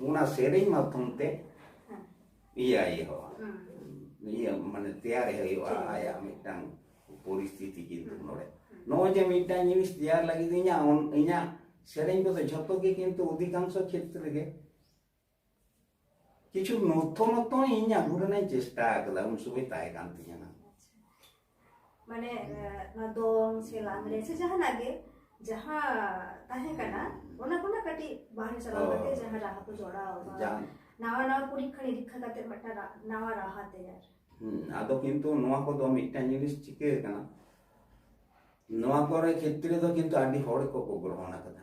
ᱚᱱᱟ ᱥᱮᱨᱮᱧ ᱢᱟᱫᱽᱫᱷᱚᱢ ᱛᱮ ᱤᱭᱟᱹ ᱦᱩᱭᱩᱜᱼᱟ ᱤᱭᱟᱹ ᱢᱟᱱᱮ ᱛᱮᱭᱟᱨ ᱦᱩᱭᱩᱜᱼᱟ ᱟᱭᱟᱜ ᱢᱤᱫᱴᱟᱝ ᱯᱚᱨᱤᱥᱛᱷᱤᱛᱤ ᱠᱤᱱᱛᱩ ᱱᱚᱰᱮ ᱱᱚᱜᱼᱚᱭ ᱡᱮ ᱢᱤᱫᱴᱟᱝ ᱡᱤᱱᱤᱥ ᱛᱮᱭᱟᱨ ᱞᱟᱹᱜᱤᱫ ᱤᱧᱟᱹᱜ ᱤᱧᱟᱹᱜ ᱥᱮᱨᱮᱧ ᱠᱚᱫᱚ ᱡᱷᱚᱛᱚ ᱜᱮ ᱠᱤᱱᱛᱩ ᱚᱫᱷᱤᱠᱟᱝᱥᱚ ᱠᱷᱮᱛᱨᱮ ᱜᱮ ᱠᱤᱪᱷᱩ ᱱᱚᱛᱚ ᱱᱚᱛᱚ ᱤᱧ ᱟᱹᱜᱩ ᱨᱮᱱᱟᱜ ᱪᱮᱥᱴᱟ ᱟᱠᱟᱫᱟ ᱩᱱ ᱥᱚᱢᱚᱭ ᱛᱟᱦᱮᱸ ᱠᱟᱱ ᱛᱤᱧᱟᱹ ᱢᱟᱱᱮ ᱱᱚᱣᱟ ᱫᱚᱝ ᱥᱮ ᱞᱟᱜᱽᱬᱮ ᱥᱮ ᱡᱟᱦᱟᱱᱟᱜ ᱜᱮ ᱡᱟᱦᱟᱸ ᱛᱟᱦᱮᱸ ᱠᱟᱱᱟ ᱚᱱᱟ ᱠᱷᱚᱱᱟᱜ ᱠᱟᱹᱴᱤᱡ ᱵᱟᱝ ᱪᱟᱞᱟᱣ ᱠᱟᱛᱮ ᱡᱟᱦᱟᱸ ᱨᱟᱦᱟ ᱠᱚ ᱡᱚᱲᱟᱣ ᱱᱟᱣᱟ ᱱᱟᱣᱟ ᱯᱚᱨᱤᱠᱷᱟ ᱱᱤᱨᱤᱠᱷᱟ ᱠᱟᱛᱮ ᱢᱤᱫᱴᱟᱝ ᱱᱟᱣᱟ ᱨᱟᱦᱟ ᱛᱮᱭᱟᱨ ᱟᱫᱚ ᱠᱤᱱᱛᱩ ᱱᱚᱣᱟ ᱠᱚᱫᱚ ᱢᱤᱫᱴᱟᱝ ᱡᱤᱱᱤᱥ ᱪᱤᱠᱟᱹ ᱟᱠᱟᱱᱟ ᱱᱚᱣᱟ ᱠᱚᱨᱮ ᱠᱷᱮᱛᱨᱮ ᱫᱚ ᱠᱤᱱᱛᱩ ᱟᱹᱰᱤ ᱦᱚᱲ ᱠᱚᱠᱚ ᱜᱨᱚᱦᱚᱱ ᱟᱠᱟᱫᱟ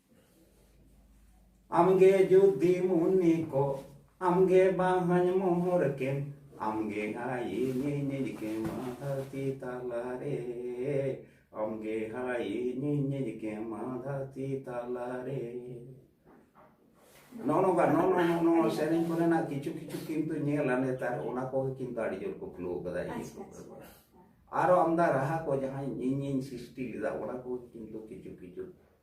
ᱟᱢᱜᱮ ᱡᱩᱫᱤ ᱢᱩᱱᱤ ᱠᱚ ᱟᱢᱜᱮ ᱵᱟᱦᱟᱧ ᱢᱚᱦᱚᱨ ᱠᱮᱢ ᱟᱢᱜᱮ ᱦᱟᱭᱤᱧ ᱧᱮᱞ ᱠᱮᱢ ᱫᱷᱟᱹᱨᱛᱤ ᱛᱟᱞᱟᱨᱮ ᱟᱢᱜᱮ ᱦᱟᱭᱤᱧ ᱧᱮᱞ ᱠᱮᱢ ᱫᱷᱟᱹᱨᱛᱤ ᱛᱟᱞᱟᱨᱮ ᱱᱚᱜᱼᱚ ᱱᱚᱝᱠᱟ ᱱᱚᱜᱼᱚ ᱱᱚᱜᱼᱚ ᱱᱚᱣᱟ ᱥᱮᱨᱮᱧ ᱠᱚᱨᱮᱱᱟᱜ ᱠᱤᱪᱷᱩ ᱠᱤᱪᱷᱩ ᱠᱤᱱᱛᱩ ᱧᱮᱞᱟ ᱱᱮᱛᱟᱨ ᱚᱱᱟ ᱠᱚᱜᱮ ᱠᱤᱱᱛᱩ ᱟᱹᱰᱤ ᱡᱳᱨ ᱠᱚ ᱠᱷᱩᱞᱟᱹᱣ ᱠᱟᱫᱟ ᱤᱭᱟᱹ ᱠᱚ ᱟᱨᱚ ᱟᱢᱫᱟ ᱨᱟᱦᱟ ᱠᱚ ᱡᱟᱦᱟᱸ ᱤᱧᱤᱧ ᱥᱨᱤᱥᱴᱤ ᱞᱮᱫᱟ ᱚᱱᱟ ᱠᱚ ᱠᱤᱱᱛᱩ ᱠᱤᱪᱷᱩ ᱠᱤᱪᱷᱩ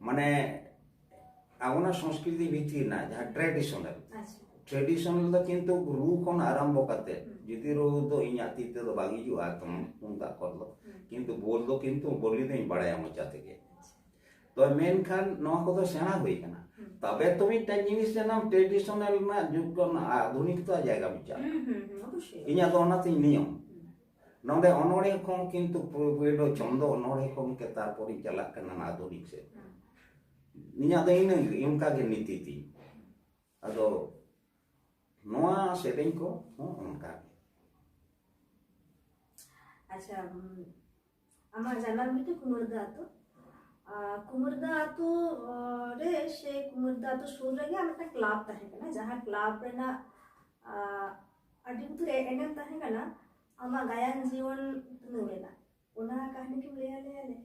ᱢᱟᱱᱮ ᱟᱵᱚᱱᱟᱜ ᱥᱚᱝᱥᱠᱨᱤᱛᱤ ᱵᱷᱤᱛᱤᱨ ᱨᱮᱱᱟᱜ ᱡᱟᱦᱟᱸ ᱴᱨᱮᱰᱤᱥᱚᱱᱟᱞ ᱴᱨᱮᱰᱤᱥᱚᱱᱟᱞ ᱫᱚ ᱠᱤᱱᱛᱩ ᱨᱩ ᱠᱷᱚᱱ ᱟᱨᱟᱢᱵᱷᱚ ᱠᱟᱛᱮ ᱡᱩᱫᱤ ᱨᱩ ᱫᱚ ᱤᱧᱟᱹᱜ ᱛᱤ ᱛᱮᱫᱚ ᱵᱟᱝ ᱦᱤᱡᱩᱜᱼᱟ ᱮᱠᱫᱚᱢ ᱛᱩᱢᱫᱟᱜ ᱠᱚᱨ ᱫᱚ ᱠᱤᱱᱛᱩ ᱵᱚᱞ ᱫᱚ ᱠᱤᱱᱛᱩ ᱵᱚᱞᱤ ᱫᱚᱧ ᱵᱟᱲᱟᱭᱟ ᱢᱚᱪᱟ ᱛᱮᱜᱮ ᱛᱚ ᱢᱮᱱᱠᱷᱟᱱ ᱱᱚᱣᱟ ᱠᱚᱫᱚ ᱥᱮᱬᱟ ᱦᱩᱭ ᱠᱟᱱᱟ ᱛᱚᱵᱮ ᱛᱚ ᱢᱤᱫᱴᱟᱝ ᱡᱤᱱᱤᱥ ᱡᱟᱱᱟᱢ ᱴᱨᱮᱰᱤᱥᱚᱱᱟᱞ ᱨᱮᱱᱟᱜ ᱡᱩᱜᱽ ᱠᱷᱚᱱ ᱟᱫᱷᱩᱱᱤᱠᱛᱟ ᱡᱟᱭᱜᱟ ᱢᱤᱫᱴᱟᱝ ᱤᱧᱟᱹᱜ ᱫᱚ ᱚᱱᱟᱛᱤᱧ ᱱᱤᱭᱚᱢ ᱱᱚᱰᱮ ᱚᱱᱚᱲᱦᱮ ᱠᱷᱚᱱ ᱠᱤᱱᱛᱩ ᱯᱳᱭᱞᱳ ᱪᱚᱱᱫᱚ ᱚᱱᱚᱲᱦᱮ ᱠᱷᱚᱱ ᱜᱮ ᱛᱟᱨᱯᱚᱨᱤᱧ ᱪᱟᱞᱟᱜ ᱠᱟᱱᱟ ᱟᱫᱷᱩᱱᱤᱠ ᱥᱮᱫ ᱤᱧᱟᱹᱜ ᱫᱚ ᱤᱱᱟᱹ ᱚᱱᱠᱟ ᱜᱮ ᱱᱤᱛᱤ ᱛᱤᱧ ᱟᱫᱚ ᱱᱚᱣᱟ ᱥᱮᱨᱮᱧ ᱠᱚ ᱦᱚᱸ ᱚᱱᱠᱟ ᱜᱮ ᱟᱪᱪᱷᱟ ᱟᱢᱟᱜ ᱡᱟᱱᱟᱢ ᱵᱷᱤᱴᱟᱹ ᱠᱩᱢᱟᱹᱨᱫᱟ ᱟᱛᱳ ᱠᱩᱢᱟᱹᱨᱫᱟ ᱟᱛᱳ ᱨᱮ ᱥᱮ ᱠᱩᱢᱟᱹᱨᱫᱟ ᱟᱛᱳ ᱥᱩᱨ ᱨᱮᱜᱮ ᱟᱨ ᱢᱤᱫᱴᱟᱝ ᱠᱞᱟᱵᱽ ᱛᱟᱦᱮᱸ ᱠᱟᱱᱟ ᱡᱟᱦᱟᱸ ᱠᱞᱟᱵᱽ ᱨᱮᱱᱟᱜ ᱟᱹᱰᱤ ᱩᱛᱟᱹᱨ ᱮᱱᱮᱢ ᱛᱟᱦᱮᱸ ᱠᱟᱱᱟ ᱟᱢᱟᱜ ᱜᱟᱭᱟᱱ ᱡᱤᱭᱚᱱ ᱩᱛᱱᱟᱹᱣ ᱨᱮᱱᱟᱜ ᱚᱱᱟ ᱠᱟᱹᱦᱱᱤ ᱠᱤᱢ ᱞᱟᱹᱭ ᱟᱞᱮᱭᱟ ᱞᱮ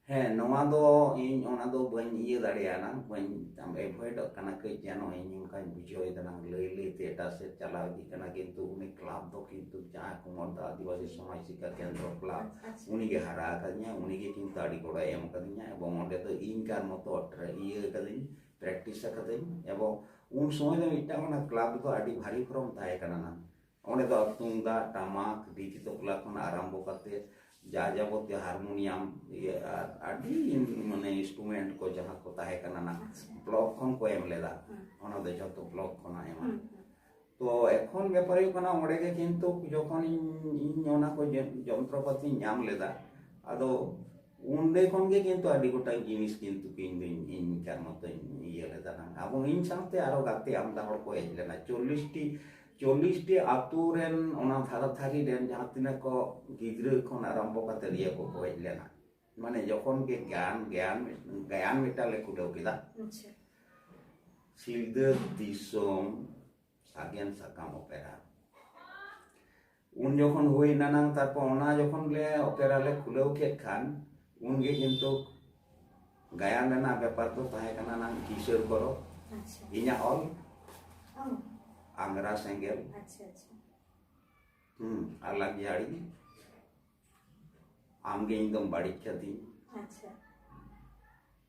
ᱦᱮᱸ ᱱᱚᱣᱟ ᱫᱚ ᱤᱧ ᱚᱱᱟ ᱫᱚ ᱵᱟᱹᱧ ᱤᱭᱟᱹ ᱫᱟᱲᱮᱭᱟᱜᱼᱟ ᱵᱟᱹᱧ ᱟᱢ ᱮᱵᱷᱚᱭᱮᱰᱚᱜ ᱠᱟᱱᱟ ᱠᱟᱹᱡ ᱡᱮᱱᱚ ᱤᱧ ᱚᱱᱠᱟᱧ ᱵᱩᱡᱷᱟᱹᱣᱮᱫᱟ ᱱᱟᱝ ᱞᱟᱹᱭ ᱞᱟᱹᱭᱛᱮ ᱮᱴᱟᱜ ᱥᱮᱫ ᱪᱟᱞᱟᱣ ᱤᱫᱤᱜ ᱠᱟᱱᱟ ᱠᱤᱱᱛᱩ ᱩᱱᱤ ᱠᱞᱟᱵᱽ ᱫᱚ ᱠᱤᱱᱛᱩ ᱡᱟᱦᱟᱸ ᱠᱩᱢᱚᱨᱫᱟ ᱟᱹᱫᱤᱵᱟᱹᱥᱤ ᱥᱚᱢᱟᱡᱽ ᱥᱤᱠᱠᱷᱟ ᱠᱮᱱᱫᱨᱚ ᱠᱞᱟᱵᱽ ᱩᱱᱤᱜᱮ ᱦᱟᱨᱟ ᱟᱠᱟᱫᱤᱧᱟ ᱩᱱᱤᱜᱮ ᱠᱤᱱᱛᱩ ᱟᱹᱰᱤ ᱜᱚᱲᱚᱭ ᱮᱢ ᱟᱠᱟᱫᱤᱧᱟ ᱮᱵᱚᱝ ᱚᱸᱰᱮ ᱫᱚ ᱤᱧ ᱠᱟᱨ ᱢᱚᱛᱚ ᱤᱭᱟᱹ ᱟᱠᱟᱫᱤᱧ ᱯᱨᱮᱠᱴᱤᱥ ᱟᱠᱟᱫᱟᱹᱧ ᱮᱵᱚᱝ ᱩᱱ ᱥᱚᱢᱚᱭ ᱫᱚ ᱢᱤᱫᱴᱟᱝ ᱚᱱᱟ ᱠᱞᱟᱵᱽ ᱫᱚ ᱟᱹᱰᱤ ᱵᱷᱟᱨᱤ ᱯᱷᱚᱨᱚᱢ ᱛᱟᱦᱮᱸ ᱠᱟᱱᱟ ᱱᱟᱝ ᱚᱸᱰᱮ ᱫᱚ ᱛᱩᱢᱫᱟᱜ ᱴᱟᱢᱟᱠ ᱰᱤᱡᱤ ᱛᱚᱠᱞᱟ ᱠᱷᱚᱱ ᱟᱨᱟᱢᱵᱚ ᱠᱟᱛᱮ ᱡᱟ ᱡᱟᱵᱚᱛᱤᱭᱚ ᱦᱟᱨᱢᱳᱱᱤᱭᱟᱢ ᱟᱨ ᱟᱹᱰᱤ ᱢᱟᱱᱮ ᱤᱱᱥᱴᱨᱩᱢᱮᱱᱴ ᱠᱚ ᱡᱟᱦᱟᱸ ᱠᱚ ᱛᱟᱦᱮᱸ ᱠᱟᱱᱟ ᱱᱟ ᱵᱞᱚᱠ ᱠᱷᱚᱱ ᱠᱚ ᱮᱢ ᱞᱮᱫᱟ ᱚᱱᱟ ᱫᱚ ᱡᱷᱚᱛᱚ ᱵᱞᱚᱠ ᱠᱷᱚᱱᱟᱜ ᱮᱢᱟ ᱛᱚ ᱮᱠᱷᱚᱱ ᱵᱮᱯᱟᱨ ᱦᱩᱭᱩᱜ ᱠᱟᱱᱟ ᱚᱸᱰᱮ ᱜᱮ ᱠᱤᱱᱛᱩ ᱡᱚᱠᱷᱚᱱ ᱤᱧ ᱚᱱᱟ ᱠᱚ ᱡᱚᱱᱛᱨᱚᱯᱟᱛᱤᱧ ᱧᱟᱢ ᱞᱮᱫᱟ ᱟᱫᱚ ᱚᱸᱰᱮ ᱠᱷᱚᱱ ᱜᱮ ᱠᱤᱱᱛᱩ ᱟᱹᱰᱤ ᱜᱚᱴᱟᱝ ᱡᱤᱱᱤᱥ ᱠᱤᱱᱛᱩ ᱤᱧ ᱫᱚᱧ ᱤᱧ ᱠᱟᱨ ᱢᱚᱛᱚᱧ ᱤᱭᱟᱹ ᱞᱮᱫᱟ ᱟᱵᱚ ᱤᱧ ᱥᱟᱶᱛᱮ ᱟᱨᱚ ᱜᱟᱛᱮ ᱟᱢᱫᱟ ᱦᱚᱲ ᱠᱚ ᱦᱮᱡ ᱞᱮᱱᱟ ᱪᱚᱞᱞᱤᱥᱴᱤ ᱪᱚᱞᱞᱤᱥ ᱴᱤ ᱟᱛᱳ ᱨᱮᱱ ᱚᱱᱟ ᱫᱷᱟᱨᱟ ᱫᱷᱟᱨᱤ ᱨᱮᱱ ᱡᱟᱦᱟᱸ ᱛᱤᱱᱟᱹᱜ ᱠᱚ ᱜᱤᱫᱽᱨᱟᱹ ᱠᱷᱚᱱ ᱟᱨᱟᱢᱵᱚ ᱠᱟᱛᱮ ᱤᱭᱟᱹ ᱠᱚ ᱜᱚᱡ ᱞᱮᱱᱟ ᱢᱟᱱᱮ ᱡᱚᱠᱷᱚᱱ ᱜᱮ ᱜᱟᱱ ᱜᱟᱱ ᱜᱟᱭᱟᱱ ᱢᱤᱫᱴᱟᱝ ᱞᱮ ᱠᱩᱰᱟᱹᱣ ᱠᱮᱫᱟ ᱥᱤᱞᱫᱟᱹ ᱫᱤᱥᱚᱢ ᱥᱟᱜᱮᱱ ᱥᱟᱠᱟᱢ ᱚᱯᱮᱨᱟ ᱩᱱ ᱡᱚᱠᱷᱚᱱ ᱦᱩᱭ ᱮᱱᱟᱱᱟᱝ ᱛᱟᱨᱯᱚᱨ ᱚᱱᱟ ᱡᱚᱠᱷᱚᱱ ᱞᱮ ᱚᱯᱮᱨᱟ ᱞᱮ ᱠᱷᱩᱞᱟᱹᱣ ᱠᱮᱫ ᱠᱷᱟᱱ ᱩᱱᱜᱮ ᱠᱤᱱᱛᱩ ᱜᱟᱭᱟᱱ ᱨᱮᱱᱟᱜ ᱵᱮᱯᱟᱨ ᱫᱚ ᱛᱟᱦᱮᱸ ᱠᱟᱱᱟ ᱱᱟᱝ ᱠᱤᱥᱟᱹᱨ ᱠᱚᱨᱚ ᱤᱧᱟᱹᱜ ᱚᱞ ᱟᱝᱜᱽᱨᱟ ᱥᱮᱸᱜᱮᱞ ᱦᱩᱸ ᱟᱨ ᱞᱟᱜᱡᱟᱲᱤ ᱟᱢᱜᱮ ᱤᱧ ᱫᱚᱢ ᱵᱟᱹᱲᱤᱡ ᱠᱟᱹᱫᱤᱧ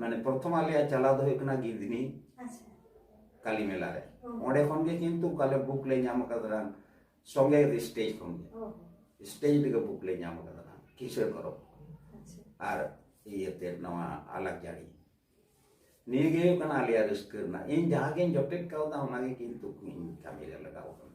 ᱢᱟᱱᱮ ᱯᱨᱚᱛᱷᱚᱢ ᱟᱞᱮᱭᱟᱜ ᱪᱟᱞᱟᱣ ᱫᱚ ᱦᱩᱭᱩᱜ ᱠᱟᱱᱟ ᱜᱤᱫᱽᱱᱤ ᱠᱟᱞᱤ ᱢᱮᱞᱟ ᱨᱮ ᱚᱸᱰᱮ ᱠᱷᱚᱱ ᱜᱮ ᱠᱤᱱᱛᱩ ᱠᱟᱞᱮ ᱵᱩᱠ ᱞᱮ ᱧᱟᱢ ᱟᱠᱟᱫᱟ ᱥᱚᱸᱜᱮ ᱜᱮ ᱥᱴᱮᱡᱽ ᱠᱷᱚᱱ ᱜᱮ ᱥᱴᱮᱡᱽ ᱨᱮᱜᱮ ᱵᱩᱠ ᱞᱮ ᱧᱟᱢ ᱟᱠᱟᱫᱟ ᱠᱤᱥᱟᱹᱬ ᱯᱚᱨᱚᱵᱽ ᱟᱨ ᱤᱭᱟᱹᱛᱮ ᱱᱚᱣᱟ ᱟᱞᱟᱜ ᱡᱟᱹᱲᱤ ᱱᱤᱭᱟᱹ ᱜᱮ ᱦᱩᱭᱩᱜ ᱠᱟᱱᱟ ᱟᱞᱮᱭᱟᱜ ᱨᱟᱹᱥᱠᱟᱹ ᱨᱮᱱᱟᱜ ᱤᱧ ᱡᱟᱦᱟᱸ ᱜᱤᱧ ᱡᱚᱴᱮᱫ ᱠᱟᱣᱫᱟ ᱚᱱᱟᱜᱮ ᱠᱤᱱᱛᱩ ᱤᱧ ᱠᱟᱹᱢᱤ ᱨᱮ ᱞᱟᱜᱟᱣ ᱟᱠᱟᱱᱟ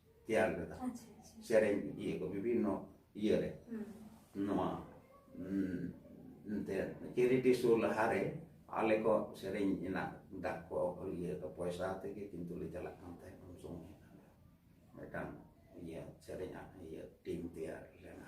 ᱛᱮᱭᱟᱨ ᱞᱮᱫᱟ ᱥᱮᱨᱮᱧ ᱤᱭᱟᱹ ᱠᱚ ᱵᱤᱵᱷᱤᱱᱱᱚ ᱤᱭᱟᱹᱨᱮ ᱱᱚᱣᱟ ᱮᱱᱛᱮᱫ ᱪᱮᱨᱤᱴᱤ ᱥᱳ ᱞᱟᱦᱟᱨᱮ ᱟᱞᱮ ᱠᱚ ᱥᱮᱨᱮᱧ ᱨᱮᱱᱟᱜ ᱫᱟᱜ ᱠᱚ ᱤᱭᱟᱹ ᱠᱚ ᱯᱚᱭᱥᱟ ᱛᱮᱜᱮ ᱠᱤᱱᱛᱩ ᱞᱮ ᱪᱟᱞᱟᱜ ᱠᱟᱱ ᱛᱟᱦᱮᱸᱫ ᱩᱱ ᱥᱚᱢᱚᱭ ᱢᱤᱫᱴᱟᱝ ᱤᱭᱟᱹ ᱥᱮᱨᱮᱧᱟᱜ ᱤᱭᱟᱹ ᱴᱤᱢ ᱛᱮᱭᱟᱨ ᱞᱮᱱᱟ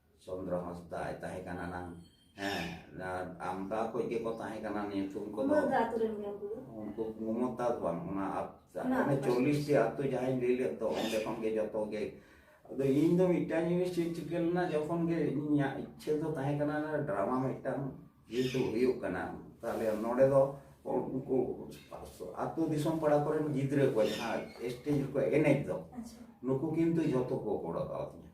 ᱪᱚᱱᱫᱨᱚ ᱦᱟᱸᱥᱫᱟ ᱟᱭ ᱛᱟᱦᱮᱸ ᱠᱟᱱᱟ ᱱᱟᱝ ᱦᱮᱸ ᱟᱢᱫᱟ ᱠᱚᱡ ᱜᱮ ᱠᱚ ᱛᱟᱦᱮᱸ ᱠᱟᱱᱟ ᱧᱩᱛᱩᱢ ᱠᱚ ᱫᱚ ᱩᱱᱠᱩ ᱢᱚᱢᱚᱛᱟ ᱫᱚ ᱵᱟᱝ ᱚᱱᱟ ᱟᱯᱛᱟ ᱪᱚᱞᱞᱤᱥ ᱴᱤ ᱟᱛᱳ ᱡᱟᱦᱟᱸᱧ ᱞᱟᱹᱭ ᱞᱮᱫ ᱫᱚ ᱚᱸᱰᱮ ᱠᱷᱚᱱ ᱜᱮ ᱡᱚᱛᱚ ᱜᱮ ᱟᱫᱚ ᱤᱧ ᱫᱚ ᱢᱤᱫᱴᱟᱝ ᱡᱤᱱᱤᱥ ᱪᱮᱫ ᱪᱤᱠᱟᱹ ᱞᱮᱱᱟ ᱡᱚᱠᱷᱚᱱ ᱜᱮ ᱤᱧᱟᱹᱜ ᱤᱪᱪᱷᱟᱹ ᱫᱚ ᱛᱟᱦᱮᱸ ᱠᱟᱱᱟ ᱰᱨᱟᱢᱟ ᱢᱤᱫᱴᱟᱝ ᱡᱮᱦᱮᱛᱩ ᱦᱩᱭᱩᱜ ᱠᱟᱱᱟ ᱛᱟᱦᱞᱮ ᱱᱚᱰᱮ ᱫᱚ ᱩᱱᱠᱩ ᱟᱛᱳ ᱫᱤᱥᱚᱢ ᱯᱟᱲᱟ ᱠᱚᱨᱮᱱ ᱜᱤᱫᱽᱨᱟᱹ ᱠᱚ ᱡᱟᱦᱟᱸ ᱥᱴᱮᱡ ᱨᱮᱠᱚ ᱮᱱᱮᱡ ᱫᱚ ᱱᱩᱠᱩ ᱠᱤᱱᱛᱩ ᱡᱚᱛᱚ ᱠᱚ ᱜᱚᱲᱚ ᱠᱟᱣᱫᱤᱧᱟ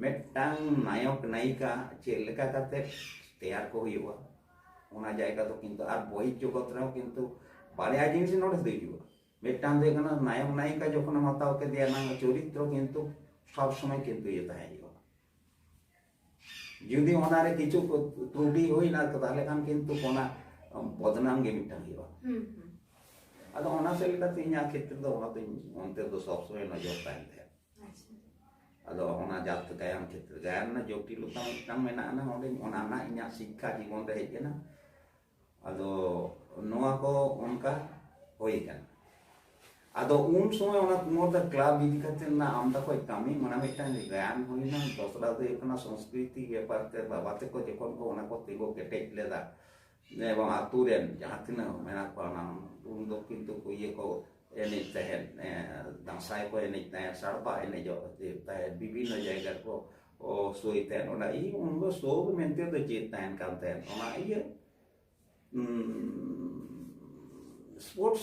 ᱢᱤᱫᱴᱟᱝ ᱱᱟᱭᱚᱠ ᱱᱟᱭᱤᱠᱟ ᱪᱮᱫ ᱞᱮᱠᱟ ᱠᱟᱛᱮ ᱛᱮᱭᱟᱨ ᱠᱚ ᱦᱩᱭᱩᱜᱼᱟ ᱚᱱᱟ ᱡᱟᱭᱜᱟ ᱫᱚ ᱠᱤᱱᱛᱩ ᱟᱨ ᱵᱚᱭ ᱡᱚᱜᱚᱛ ᱨᱮᱦᱚᱸ ᱠᱤᱱᱛᱩ ᱵᱟᱨᱭᱟ ᱡᱤᱱᱤᱥ ᱱᱚᱰᱮ ᱫᱚ ᱦᱤᱡᱩᱜᱼᱟ ᱢᱤᱫᱴᱟᱝ ᱫᱚ ᱦᱩᱭᱩᱜ ᱠᱟᱱᱟ ᱱᱟᱭᱚᱠ ᱱᱟᱭᱤᱠᱟ ᱡᱚᱠᱷᱚᱱᱮᱢ ᱦᱟᱛᱟᱣ ᱠᱮᱫᱮᱭᱟ ᱱᱟᱝ ᱪᱚᱨᱤᱛᱨᱚ ᱠᱤᱱᱛᱩ ᱥᱚᱵ ᱥᱚᱢᱚᱭ ᱠᱤᱱᱛᱩ ᱤᱭᱟᱹ ᱛᱟᱦᱮᱸ ᱦᱩᱭᱩᱜᱼᱟ ᱡᱩᱫᱤ ᱚᱱᱟᱨᱮ ᱠᱤᱪᱷᱩ ᱛᱨᱩᱴᱤ ᱦᱩᱭᱱᱟ ᱛᱟᱦᱞᱮ ᱠᱷᱟᱱ ᱠᱤᱱᱛᱩ ᱚᱱᱟ ᱵᱚᱫᱱᱟᱢ ᱜᱮ ᱢᱤᱫᱴᱟᱝ ᱦᱩᱭᱩᱜᱼᱟ ᱟᱫᱚ ᱚᱱᱟ ᱥᱮᱫ ᱞᱮᱠᱟᱛᱮ ᱤᱧᱟᱹᱜ ᱠᱷᱮᱛᱨᱮ ᱫᱚ ᱚᱱᱟᱛᱮᱧ ᱚᱱᱛᱮ ᱫᱚ ᱥᱚᱵ ᱥᱚᱢᱚᱭ ᱱᱚᱡᱚᱨ ᱛᱟᱦᱮᱱ ᱛᱟᱦᱮᱸᱫ ᱟᱫᱚ ᱚᱱᱟ ᱡᱟᱛᱮ ᱜᱟᱭᱟᱱ ᱠᱷᱮᱛᱨᱮ ᱜᱟᱭᱟᱱ ᱨᱮᱱᱟᱜ ᱡᱚᱴᱤᱞᱚᱛᱟ ᱢᱤᱫᱴᱟᱝ ᱢᱮᱱᱟᱜ ᱟᱱᱟ ᱚᱸᱰᱮ ᱚᱱᱟ ᱨᱮᱱᱟᱜ ᱤᱧᱟᱹᱜ ᱥᱤᱠᱠᱷᱟ ᱡᱤᱵᱚᱱ ᱨᱮ ᱦᱮᱡ ᱮᱱᱟ ᱟᱫᱚ ᱱᱚᱣᱟ ᱠᱚ ᱚᱱᱠᱟ ᱦᱩᱭ ᱟᱠᱟᱱᱟ ᱟᱫᱚ ᱩᱱ ᱥᱚᱢᱚᱭ ᱚᱱᱟ ᱠᱩᱢᱚᱨᱫᱟ ᱠᱞᱟᱵ ᱤᱫᱤ ᱠᱟᱛᱮ ᱨᱮᱱᱟᱜ ᱟᱢᱫᱟ ᱠᱚ ᱠᱟᱹᱢᱤ ᱢᱟᱱᱮ ᱢᱤᱫᱴᱟᱝ ᱜᱟᱭᱟᱱ ᱦᱩᱭᱱᱟ ᱫᱚᱥᱨᱟ ᱫᱚ ᱦᱩᱭᱩᱜ ᱠᱟᱱᱟ ᱥᱚᱝᱥᱠᱨᱤᱛᱤ ᱵᱮᱯᱟᱨ ᱛᱮ ᱵᱟᱵᱟ ᱛᱮᱠᱚ ᱡᱚᱠᱷᱚᱱ ᱠᱚ ᱚᱱᱟ ᱠᱚ ᱛᱤᱸᱜᱩ ᱠᱮᱴᱮᱡ ᱞᱮᱫᱟ ᱱᱤᱭᱟᱹ ᱵᱟᱝ ᱟᱛᱳ ᱨᱮᱱ ᱡᱟᱦᱟᱸ ᱛᱤᱱᱟᱹᱜ ᱢᱮᱱᱟᱜ ᱠᱚᱣᱟ ᱚᱱᱟ ᱩᱱ ᱫᱚ ᱠᱤᱱᱛᱩ ᱠᱚ ᱤᱭᱟᱹ ᱠᱚ ᱮᱱᱮᱡ ᱛᱟᱦᱮᱸᱫ ᱫᱟᱸᱥᱟᱭ ᱠᱚ ᱮᱱᱮᱡ ᱛᱟᱦᱮᱸᱫ ᱥᱟᱲᱯᱟ ᱮᱱᱮᱡᱚᱜ ᱛᱟᱦᱮᱸᱫ ᱵᱤᱵᱷᱤᱱᱱᱚ ᱡᱟᱭᱜᱟ ᱠᱚ ᱥᱳᱭ ᱛᱟᱦᱮᱸᱫ ᱚᱱᱟ ᱤᱧ ᱩᱱ ᱫᱚ ᱥᱳ ᱢᱮᱱᱛᱮ ᱫᱚ ᱪᱮᱫ ᱛᱟᱦᱮᱱ ᱠᱟᱱ ᱛᱟᱦᱮᱸᱫ ᱚᱱᱟ ᱤᱭᱟᱹ ᱥᱯᱳᱨᱴᱥ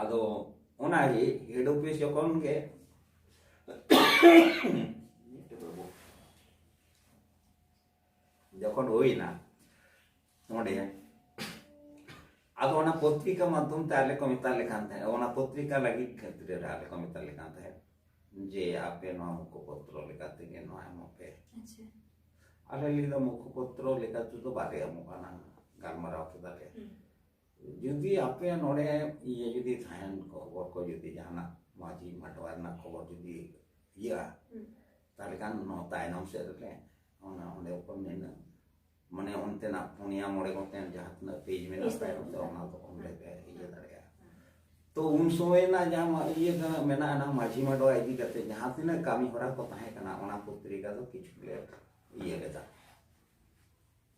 ᱟᱫᱚ ᱚᱱᱟᱜᱮ ᱦᱮᱰ ᱚᱯᱷᱤᱥ ᱡᱚᱠᱷᱚᱱ ᱜᱮ ᱡᱚᱠᱷᱚᱱ ᱦᱩᱭᱱᱟ ᱱᱚᱰᱮ ᱟᱫᱚ ᱚᱱᱟ ᱯᱚᱛᱨᱤᱠᱟ ᱢᱟᱫᱽᱫᱷᱚᱢ ᱛᱮ ᱟᱞᱮ ᱠᱚ ᱢᱮᱛᱟ ᱞᱮ ᱠᱟᱱ ᱛᱟᱦᱮᱸᱫ ᱚᱱᱟ ᱯᱚᱛᱨᱤᱠᱟ ᱞᱟᱹᱜᱤᱫ ᱠᱷᱟᱹᱛᱤᱨ ᱨᱮ ᱟᱞᱮ ᱠᱚ ᱢᱮᱛᱟ ᱞᱮ ᱠᱟᱱ ᱛᱟᱦᱮᱸᱫ ᱡᱮ ᱟᱯᱮ ᱱᱚᱣᱟ ᱢᱩᱠᱷᱚ ᱯᱚᱛᱨᱚ ᱞᱮᱠᱟ ᱛᱮᱜᱮ ᱱᱚᱣᱟ ᱮᱢᱚᱜ ᱯᱮ ᱟᱞᱮ ᱞᱟᱹᱭ ᱫᱚ ᱢᱩᱠᱷᱚ ᱯᱚᱛᱨᱚ ᱞᱮᱠᱟ ᱛᱮᱫᱚ ᱵᱟᱞᱮ ᱮᱢᱚᱜ ᱠᱟᱱᱟ ᱜᱟᱞᱢᱟᱨᱟᱣ ᱠᱮᱫᱟᱞᱮ ᱡᱩᱫᱤ ᱟᱯᱮ ᱱᱚᱰᱮ ᱤᱭᱟᱹ ᱡᱩᱫᱤ ᱛᱟᱦᱮᱱ ᱠᱷᱚᱵᱚᱨ ᱠᱚ ᱡᱩᱫᱤ ᱡᱟᱦᱟᱱᱟᱜ ᱢᱟᱹᱡᱷᱤ ᱢᱟᱰᱣᱟ ᱨᱮᱱᱟᱜ ᱠᱷᱚᱵᱚᱨ ᱡᱩᱫᱤ ᱤᱭᱟᱹᱜᱼᱟ ᱛᱟᱦᱚᱞᱮ ᱠᱷᱟᱱ ᱱᱚᱣᱟ ᱛᱟᱭᱱᱚᱢ ᱥᱮᱫ ᱨᱮᱞᱮ ᱚᱱᱟ ᱚᱸᱰᱮ ᱠᱚ ᱢᱮᱱᱟ ᱢᱟᱱᱮ ᱚᱱᱛᱮᱱᱟᱜ ᱯᱩᱱᱭᱟ ᱢᱚᱬᱮ ᱜᱚᱴᱮᱱ ᱡᱟᱦᱟᱸ ᱛᱤᱱᱟᱹᱜ ᱯᱮᱡᱽ ᱢᱮᱱᱟᱜᱼᱟ ᱛᱟᱭᱚᱢ ᱛᱮ ᱚᱱᱟ ᱫᱚ ᱚᱸᱰᱮ ᱯᱮ ᱤᱭᱟᱹ ᱫᱟᱲᱮᱭᱟᱜᱼᱟ ᱛᱚ ᱩᱱ ᱥᱚᱢᱚᱭ ᱨᱮᱱᱟᱜ ᱡᱟᱦᱟᱸ ᱤᱭᱟᱹ ᱠᱟᱱᱟ ᱢᱮᱱᱟᱜᱼᱟ ᱚᱱᱟ ᱢᱟᱹᱡᱷᱤ ᱢᱟᱰᱣᱟ ᱤᱫᱤ ᱠᱟᱛᱮ ᱡᱟᱦᱟᱸ ᱛᱤᱱᱟᱹᱜ ᱠᱟᱹᱢᱤ ᱦᱚᱨᱟ ᱠᱚ ᱛᱟᱦᱮᱸ ᱠᱟᱱᱟ ᱚᱱᱟ ᱯᱚᱛᱨᱤᱠᱟ ᱫᱚ ᱠᱤᱪᱷᱩ ᱞᱮ ᱤᱭᱟᱹ ᱞᱮᱫᱟ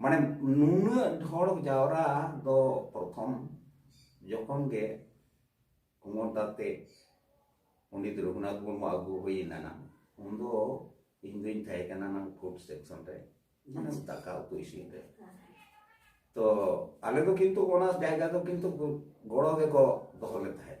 ᱢᱟᱱᱮ ᱱᱩᱱᱟᱹᱜ ᱦᱚᱲ ᱡᱟᱣᱨᱟ ᱫᱚ ᱯᱨᱚᱛᱷᱚᱢ ᱡᱚᱠᱷᱚᱱ ᱜᱮ ᱠᱩᱢᱚᱨ ᱫᱟᱛᱮ ᱯᱚᱱᱰᱤᱛ ᱨᱚᱜᱷᱩᱱᱟᱛᱷ ᱢᱩᱨᱢᱩ ᱟᱹᱜᱩ ᱦᱩᱭᱮᱱᱟ ᱱᱟᱝ ᱩᱱ ᱫᱚ ᱤᱧ ᱫᱩᱧ ᱛᱟᱦᱮᱸ ᱠᱟᱱᱟ ᱱᱟᱝ ᱯᱷᱩᱰ ᱥᱮᱠᱥᱚᱱ ᱨᱮ ᱢᱟᱱᱮ ᱫᱟᱠᱟ ᱩᱛᱩ ᱤᱥᱤᱱ ᱨᱮ ᱛᱚ ᱟᱞᱮ ᱫᱚ ᱠᱤᱱᱛᱩ ᱚᱱᱟ ᱡᱟᱭᱜᱟ ᱫᱚ ᱠᱤᱱᱛᱩ ᱜᱚᱲᱚ ᱜᱮᱠᱚ ᱫᱚᱦᱚ ᱞᱮ ᱛᱟᱦᱮᱸᱫ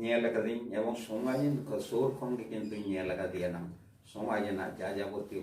ᱧᱮᱞ ᱟᱠᱟᱫᱟᱹᱧ ᱮᱵᱚᱝ ᱥᱚᱢᱟᱡᱽ ᱨᱮᱱ ᱥᱩᱨ ᱠᱷᱚᱱ ᱜᱮ ᱠᱤᱱᱛᱩᱧ ᱧᱮᱞ ᱟᱠᱟᱫᱮᱭᱟ ᱱᱟᱝ ᱥᱚᱢᱟᱡᱽ ᱨᱮᱱᱟᱜ ᱡᱟ ᱡᱟᱵᱚᱛᱤᱭᱚ